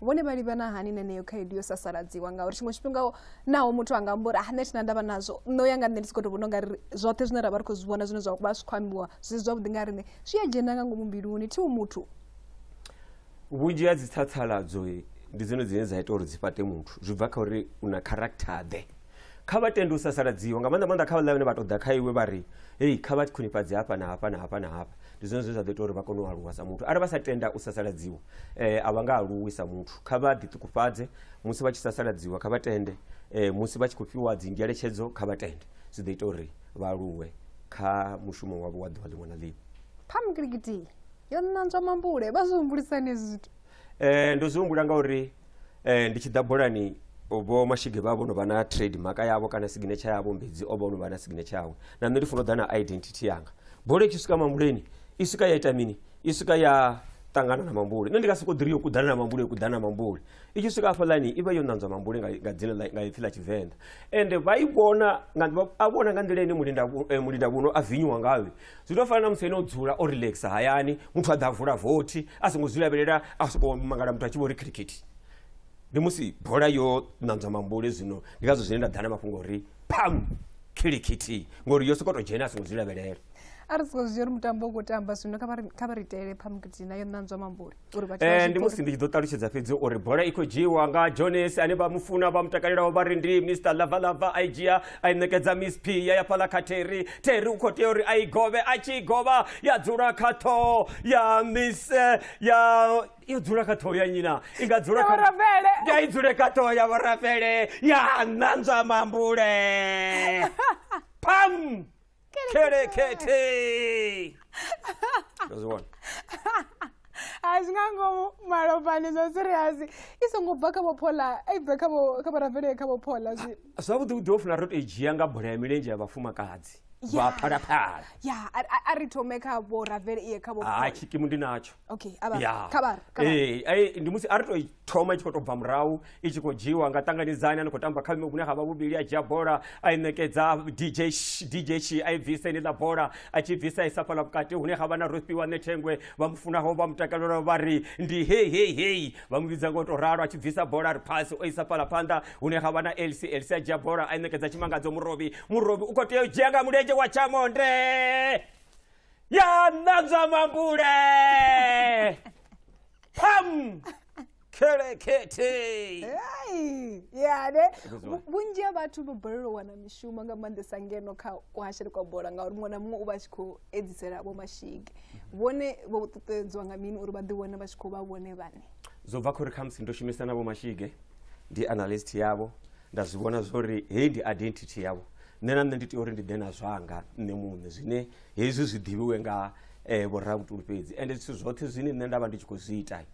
vhone vha livhana hani neneyo khaedu yo sasaladziwa ngauri tshiṅwe tshifhinga naho muthu anga amba uri ah nṋe thina ndavha nazwo nṋe uya nga nṋe ndi si khou to vhona ungari zwoṱhe zwine ra vha ri khou zwi vhona zwine zwa vha zwi khou ambiwa zwi zwavhuḓi nga riṋe zwi a dzhena nga ngomu mbiluni thiu muthu vhunzhi ha dzi tsatsaladzo ndi dzone dzine dza ita uri dzi fhate muthu zwi bva kha uri u na character ḓe kha vha tende u sasaladziwa nga maanḓa maanḓa kha vhaḽa vhane vha ṱoḓa kha iwe vha ri hei kha vha khwinifhadze hafha na hafha na hafha na hafha ndi zwone zwe zwa ḓo ita uri vha kone u aluwa sa muthu arali vha sa tenda u sasaladziwa um eh, a vha nga aluwi sa muthu kha vha ḓiṱukufhadze musi vha tshi sasaladziwa kha vha tende um musi vha tshi khou fhiwa dzi ngeletshedzo kha vha tende zwi ḓo ita uri vha aluwe kha mushumo wavho wa ḓuvha ḽiṅwe na ḽiṅwe phamgilikiti yo ṋanzwa mambule vha zwi humbulisani hezwi zwithu Eh, ndo zwi humbula ngauri eh, ndi tshi ḓa bolani vho mashige vha vho no vha na trade maka yavho kana signature yavho mbedzi o vha no vha na signature yawe na nṋe ndi funa u ḓa na identity yanga bola i tshi swika mambuleni i swika ya ita mini i swika ya ṱangana na mambule nṋe ndi nga sokou ḓiri yo kuḓana na mambule yo kuḓana na mambule i tshi swika hafhaḽani i vha yo ṋanzwa mambule nga nga dzina ḽa- nga ipfi ḽa tshivenḓa ende vha i vhona nga- vha- a vhona nga nḓila ine mulinda vhu- eh, mulinda vhuno a vinyiwa ngayo zwi to fana na musi ene o dzula o relaxa hayani muthu a ḓa a vula vothi a songo zwi lavhelela a sokou mangala muthu a tshi vho ri khirikhithi ndi musi bola yo ṋanzwa mambule zwino ndi ngazwo zwine nda ḓa na mafhungo uri pam khirikhithi ngori yo sokou to dzhena a songo zwi lavhelela a ri soko zwi uri mutambo u khou tamba zwino kha vha ri- kha vha ri itele phamukiti na yo ṋanzwa mambule uri vhathu vha Eh, zwi ndi ḓivhe. musi ndi tshi ḓo ṱalutshedza fhedzi uri bola i khou dzhiiwa nga jones ane vha mu funa vha mu takalelaho vha ri ndi mr lavalava a i dzhia a i ṋekedza miss p ya ya fhaḽa kha terry terry u khou tea uri a i govhe a tshi i govha ya dzula kha ṱhoho ya miss eh, ya yo dzula kha ṱhoho ya nyina i nga dzula Ya kha- Vhorafele. ya i dzule kha ṱhoho ya vhorafele ya ṋanzwa mambule pam Kitty, kitty. That's one. a zwi nga ngomu malofhani zwa siriasi i songo bva kha vhophola i bve kha vhorafele kha vhophola zwi zwavhuḓi vhuḓi ho funa ro to i dzhia nga bola ya milenzhe ya vhafumakadzi vha phalaphala ya a ri thome kha vhorafele iye kha vhophola ha tshikimu ndi natsho okay a vha kha vha ee ndi musi a ri to thoma i tshi khou tou bva murahu i tshi khou dzhiwa nga ṱanganidzani a ni khou tamba kha vhune ha vha vhuvhili a dzhia bola a i ṋekedza dj dj shi a i bvisa ine ḽa bola a tshi bvisa i sa fhala vhukati hune ha vha na rofhiwa ṋethengwe vha mu funaho vha mutakalelwa vha ri ndi hei hei hei vha mu vhidza ngo tou ralo a tshi bvisa bola ri phasi o isa fhala phanḓa hune ha vha na lc lc a dzhia bola a i ṋekedza tshimangadzo murobi murobi u khou tea u dzhia nga mulenzhe wa tshamonde ya ṋanzwa mambule pam kherekhethe Ai, ya ne Zwi vhu- vhunzhi ha vhathu vho balelwa u wana mishumo nga maanḓesa ngeno kha kuhashele kwa bola ngauri muṅwe na muṅwe u vha a tshi khou edzisela vho mashige vhone vho ṱuṱuwedzwa nga mini uri vha ḓi wane vha tshi khou vha vhone vhane zwo bva khori khamusi ndo shumisa navho mashige ndi analyst yavho nda zwi vhona zwori heyi ndi identity yavho nṋe na nṋe ndi tea uri ndi ḓe na zwanga nṋe muṋe zwine hezwi zwi ḓivhiwe nga eh, vhoravhutuli fhedzi ende zwithu zwoṱhe zwine nṋe nda vha ndi tshi khou zwi ita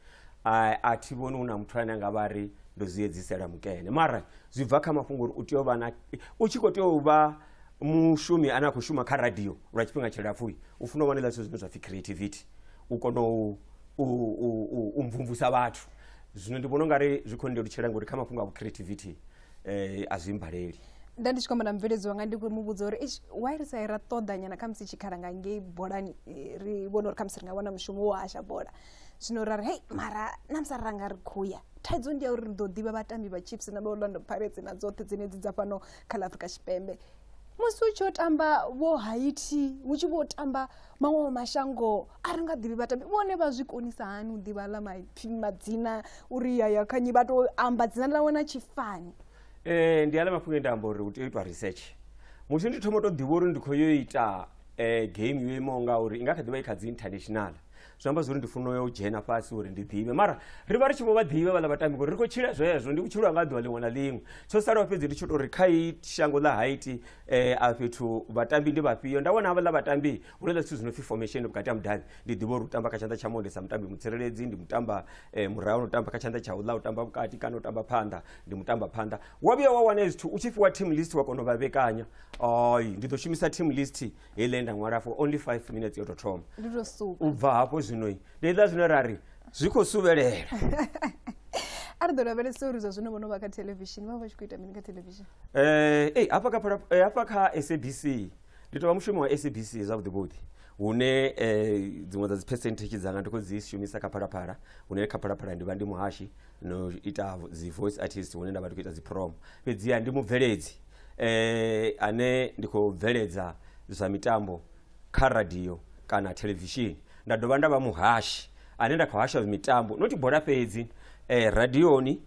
a, a thi vhoni hu na muthu ane a nga vha ri ndo zwi edzisela mukene mara zwi bva kha mafhungo uri u tea u vha na u tshi khou tea u vha mushumi ane a khou shuma kha radio lwa tshifhinga tshilapfu u funa u vha na zwithu zwine zwa pfhi creativity u kona u u, u, u, u mvumvusa vhathu zwino ndi vhona ungari zwi khou ndilutshela ngori kha mafhungo a vhu creativity eh, a zwi mbaleli nda ndi tshi kwamba na mubveledzi wanga ndi mu vhudza uri "Eish, why ri sa ra ṱoḓa nyana khamusi tshikhala nga ngei bolani eh, ri vhone uri khamusi ri nga wana mushumo wo hasha bola zwino ra ri hei mara namusi ra nga ri khoya thaidzo ndi ya uri ri ḓo ḓivha vhatambi vha chips na vha orlando pirates na dzoṱhe dzenedzi dza fhano kha ḽa afrika tshipembe musi u tshi yo tamba vho haiti hu tshi vho tamba maṅwe mashango a ri nga ḓivhi vhatambi vhone vha zwi konisa hani u ḓivha ḽa maipfi madzina uri yaya kha nyi vha tou amba dzina ḽawe na tshifani um ndi aḽa mafhungo e nda amba uri u tea u itwa research musi ndi thoma u to ḓivha uri ndi khou yo ita um game yo imaho nga uri i nga kha ḓivha i kha dzi international zwi amba zwori ndi funa u ya u dzhena fhasi uri ndi ḓivhe mara ri vha ri tshi vho vha ḓivha vhaḽa vhatambi ngori ri khou tshila zwezwo ndi vhutshilo hanga ḓuvha ḽiṅwe na ḽiṅwe tsho salaho fhedzi ndi tsho tou ri kha i shango ḽa haiti eh a fhethu vhatambi ndi vhafhio nda vhona havhaḽa vhatambi hu na zwithu zwi no pfhi formation vhukati ha mudavhi ndi ḓivha uri u tamba kha tshanḓa tsha monde sa mutambi mutsireledzi ndi mutamba eh, murahu u tamba kha tshanḓa tsha uḽa u tamba vhukati kana u tamba phanḓa ndi mutamba phanḓa wa vhuya wa wana zwithu u tshi fhiwa team list wa kona u vha vhekanya ai ndi ḓo shumisa team list heiḽa nda ṅwala for only 5 minutes yo tou thoma ndi to suka u bva hafho zwinoi ndi heiḽa zwino ra ri zwi khou suvhelela a ri ḓo lavhelesa uri zwa zwino vho no vha kha thelevishini vha vha vha tshi khou ita mini kha thelevishini Eh, ei hafha kha phara- eh, hafha kha sabc ndi tovha mushumi wa sabc zwavhuḓi vhuḓi hune eh, dziṅwe dza dzi percentage dzanga ndi khou dzi shumisa kha phalaphala hune kha phalaphala ndi vha ndi muhashi no ita vo- dzi voice artist hune nda vha ndi khou ita dzi prom fhedziha ndi mubveledzi eh, ane ndi khou bveledza zwa mitambo kha radio kana thelevishini nda dovha nda vha muhashi ane nda khou hasha mitambo noti bola fhedzi eh, radioni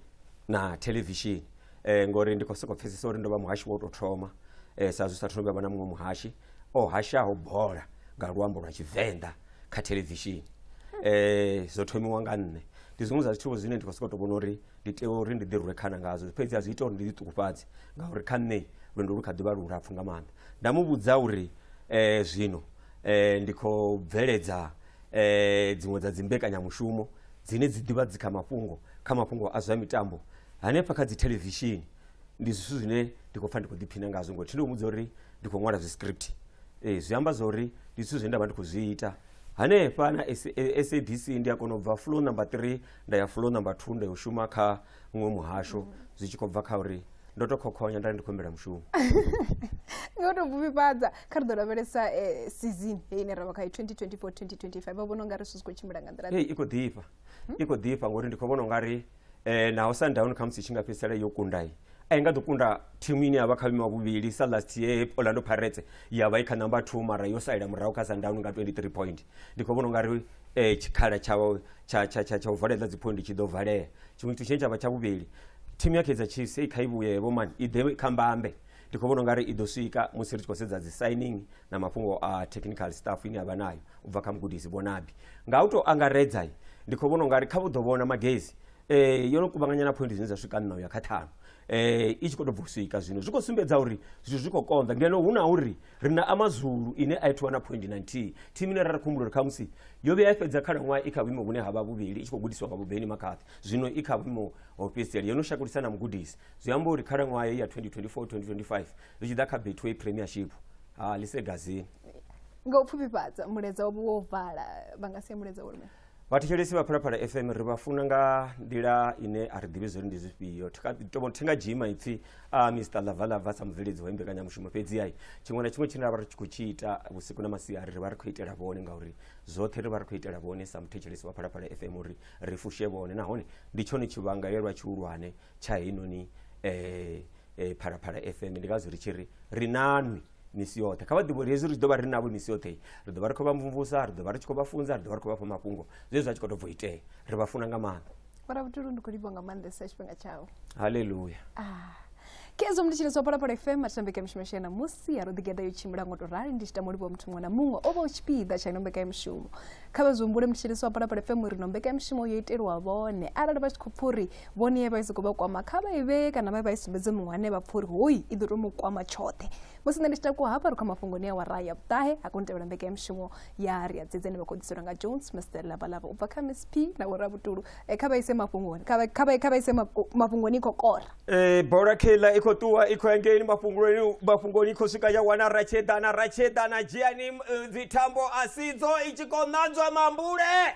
na thelevishini eh, ngori ndi khou sokou pfesesa uri ndo vha muhashi wa u tou thoma eh, sa zwi sa thoma vha na muṅwe muhashi o hashaho bola nga luambo lwa tshivenḓa kha thelevishini eh, zwo thomiwa nga nṋe ndi zwiṅwe zwa zwithu zwine ndi khou sokou tou vhona uri ndi tea uri ndi ḓirwe khana ngazwo fhedzi a zwi ita uri ndi ḓiṱukufhadze ngauri kha nṋe lwendo lu kha ḓivha lu lapfhu nga maanḓa nda mu vhudza uri eh, zwino eh, ndi khou bveledza eh, dziṅwe dza dzimbekanyamushumo dzine dzi ḓivha dzi kha mafhungo kha mafhungo a zwa mitambo hanefha kha dzithelevishini ndi zwithu zwine ndi khou pfa ndi khou ḓiphina ngazwo ngori tshinde mudza uri ndi khou ṅwala zwiscript eh, zwi amba zwa uri ndi zwithu zwine nda vha ndi khou zwi ita hanefha na S- eh, sabc ndi a kona u bva flow number 3 nda ya flow number 2 nda yo shuma kha muṅwe muhasho mm. zwi tshi khou bva kha uri ndo to khokhonya nda ri ndi khou humbela mushumo nga to bvuvhifhadza kha ri ḓo lavhelesa eh, season heyi ine ra vha kha 2024 2025 vha vhona ungari zwithu zwi khou tshimbila nga nḓila i khou ḓifha hmm? i khou ḓifha ngori ndi khou vhona ungari um eh, naho sundown kha musi tshi nga fhedzisela yo kundayi a i nga ḓo kunda thimu ine ya vha kha vhime wa vhuvhili sa last year orlando pirates ya vha i kha number two mara yo salela murahu kha sundown nga 23 point ndi khou vhona u nga ri um tshikhala tsha u valela dziphondi tshi ḓo valea tshiṅwe tshithu tshine tsha vha tsha vhuvhili thimu ya kaizer chiefs i kha i vhuye vhomani i ḓe kha mbambe ndi khou vhona u nga ri i ḓo swika musi ri tshi khou sedza dzi signing na mafhungo a technical staff ine ya vha nayo u bva kha mugudisi vhonabi nga u tou angaredza ndi khou vhona u nga ri kha vhu ḓo vhona magezi um yo no kuvhanganya na phoindi dzine dza swika nṋa u ya kha ṱhanu um i tshi khou tou bva u swika zwino zwi khou sumbedza uri zwithu zwi khou konḓa ngeno hu na uri ri na amazulu ine a ithiwa na phoindi na nthihi thimu ine ra ri khumbulo ri khamusi yo vhuya ya fhedza khalaṅwaha i kha vhuimo vhune ha vha vhuvhili i tshi khou gudisiwa nga vhubeni makhathi zwino i kha vhuimo ho fhedzisela yo no shakulisa na mugudisi zwi amba uri khalaṅwaha ya 2024 2025 ri tshi ḓa kha betway premiership ha lisegazini nga u pfufhifhadza muledza wavho wo vala vha nga sia muledza wo vhathetshelesi vha phalaphala fm ri vha funa nga nḓila ine a ri ḓivhi zwori ndi zwifhio thi nga dzhii maipfhi a mr lavalava sa mubveledzi wa imbekanyamushumo fhedzi ai tshiṅwe na tshiṅwe tshine ra vha ri tshi khou tshi ita vhusiku na masiari ri vha ri khou itela vhone ngauri zwoṱhe ri vha ri khou itela vhone sa muthetshelesi wa phalaphala fm uri ri fushe vhone nahone ndi tshone tshivhangalelwa tshihulwane tsha heinoni um phalaphala fm ndi ngazwo ri tshi ri ri nanwi misi yoṱhe kha vha ḓivhe uri hezwi ri tshi ḓo vha ri navho misi yoṱhe ri ḓo vha ri khou vha mvumvusa ri ḓo vha ri tshi khou vha funza ri ḓo vha ri khou vha fha mafhungo zwezwi zwa tshi khou tou bvo itea ri vha funa nga maanḓa vhona vhutulu ndi khou livho nga maanḓesa tshifhinga tshau haleluya ah. kezo ndi tshilisa phalaphala fm matambeka mishumo shena musi ya ro ḓigeda yo tshimbila ngo to rali ndi tshi tama livho muthu muṅwe na muṅwe o vha u tshipiḓa tsha nombeka ya mishumo kha vha zwi humbule mutshilisa wa phalaphala fm uri nombeka ya mishumo yo itelwa vhone arali vha tshi khou pfha uri vhone ye vha i sokou vha kwama kha vha i vhee kana vha vha i sumbedze muṅwe ane vha pfha uri hoyi i ḓo tou mu kwama tshoṱhe musi nṋe ndi tshi takuwa hafha ri kha mafhungoni a wara ya vhuṱahe a koni tevhela mbekanyamushumo ya ri a dzedze ni vha khoḓiselwa nga jones mr lavalava u bva kha miss p na vhorabutulu eh, kha vha ise mafhungoni kha vha ise mafhungoni i khou kora eh, bola khela i khou ṱuwa i khou engeini mafhungoni i khou swika ya wana ratshedana ratshedana dzhiani eh, dzithambo a sidzo i tshi khou ṋanzwa mambule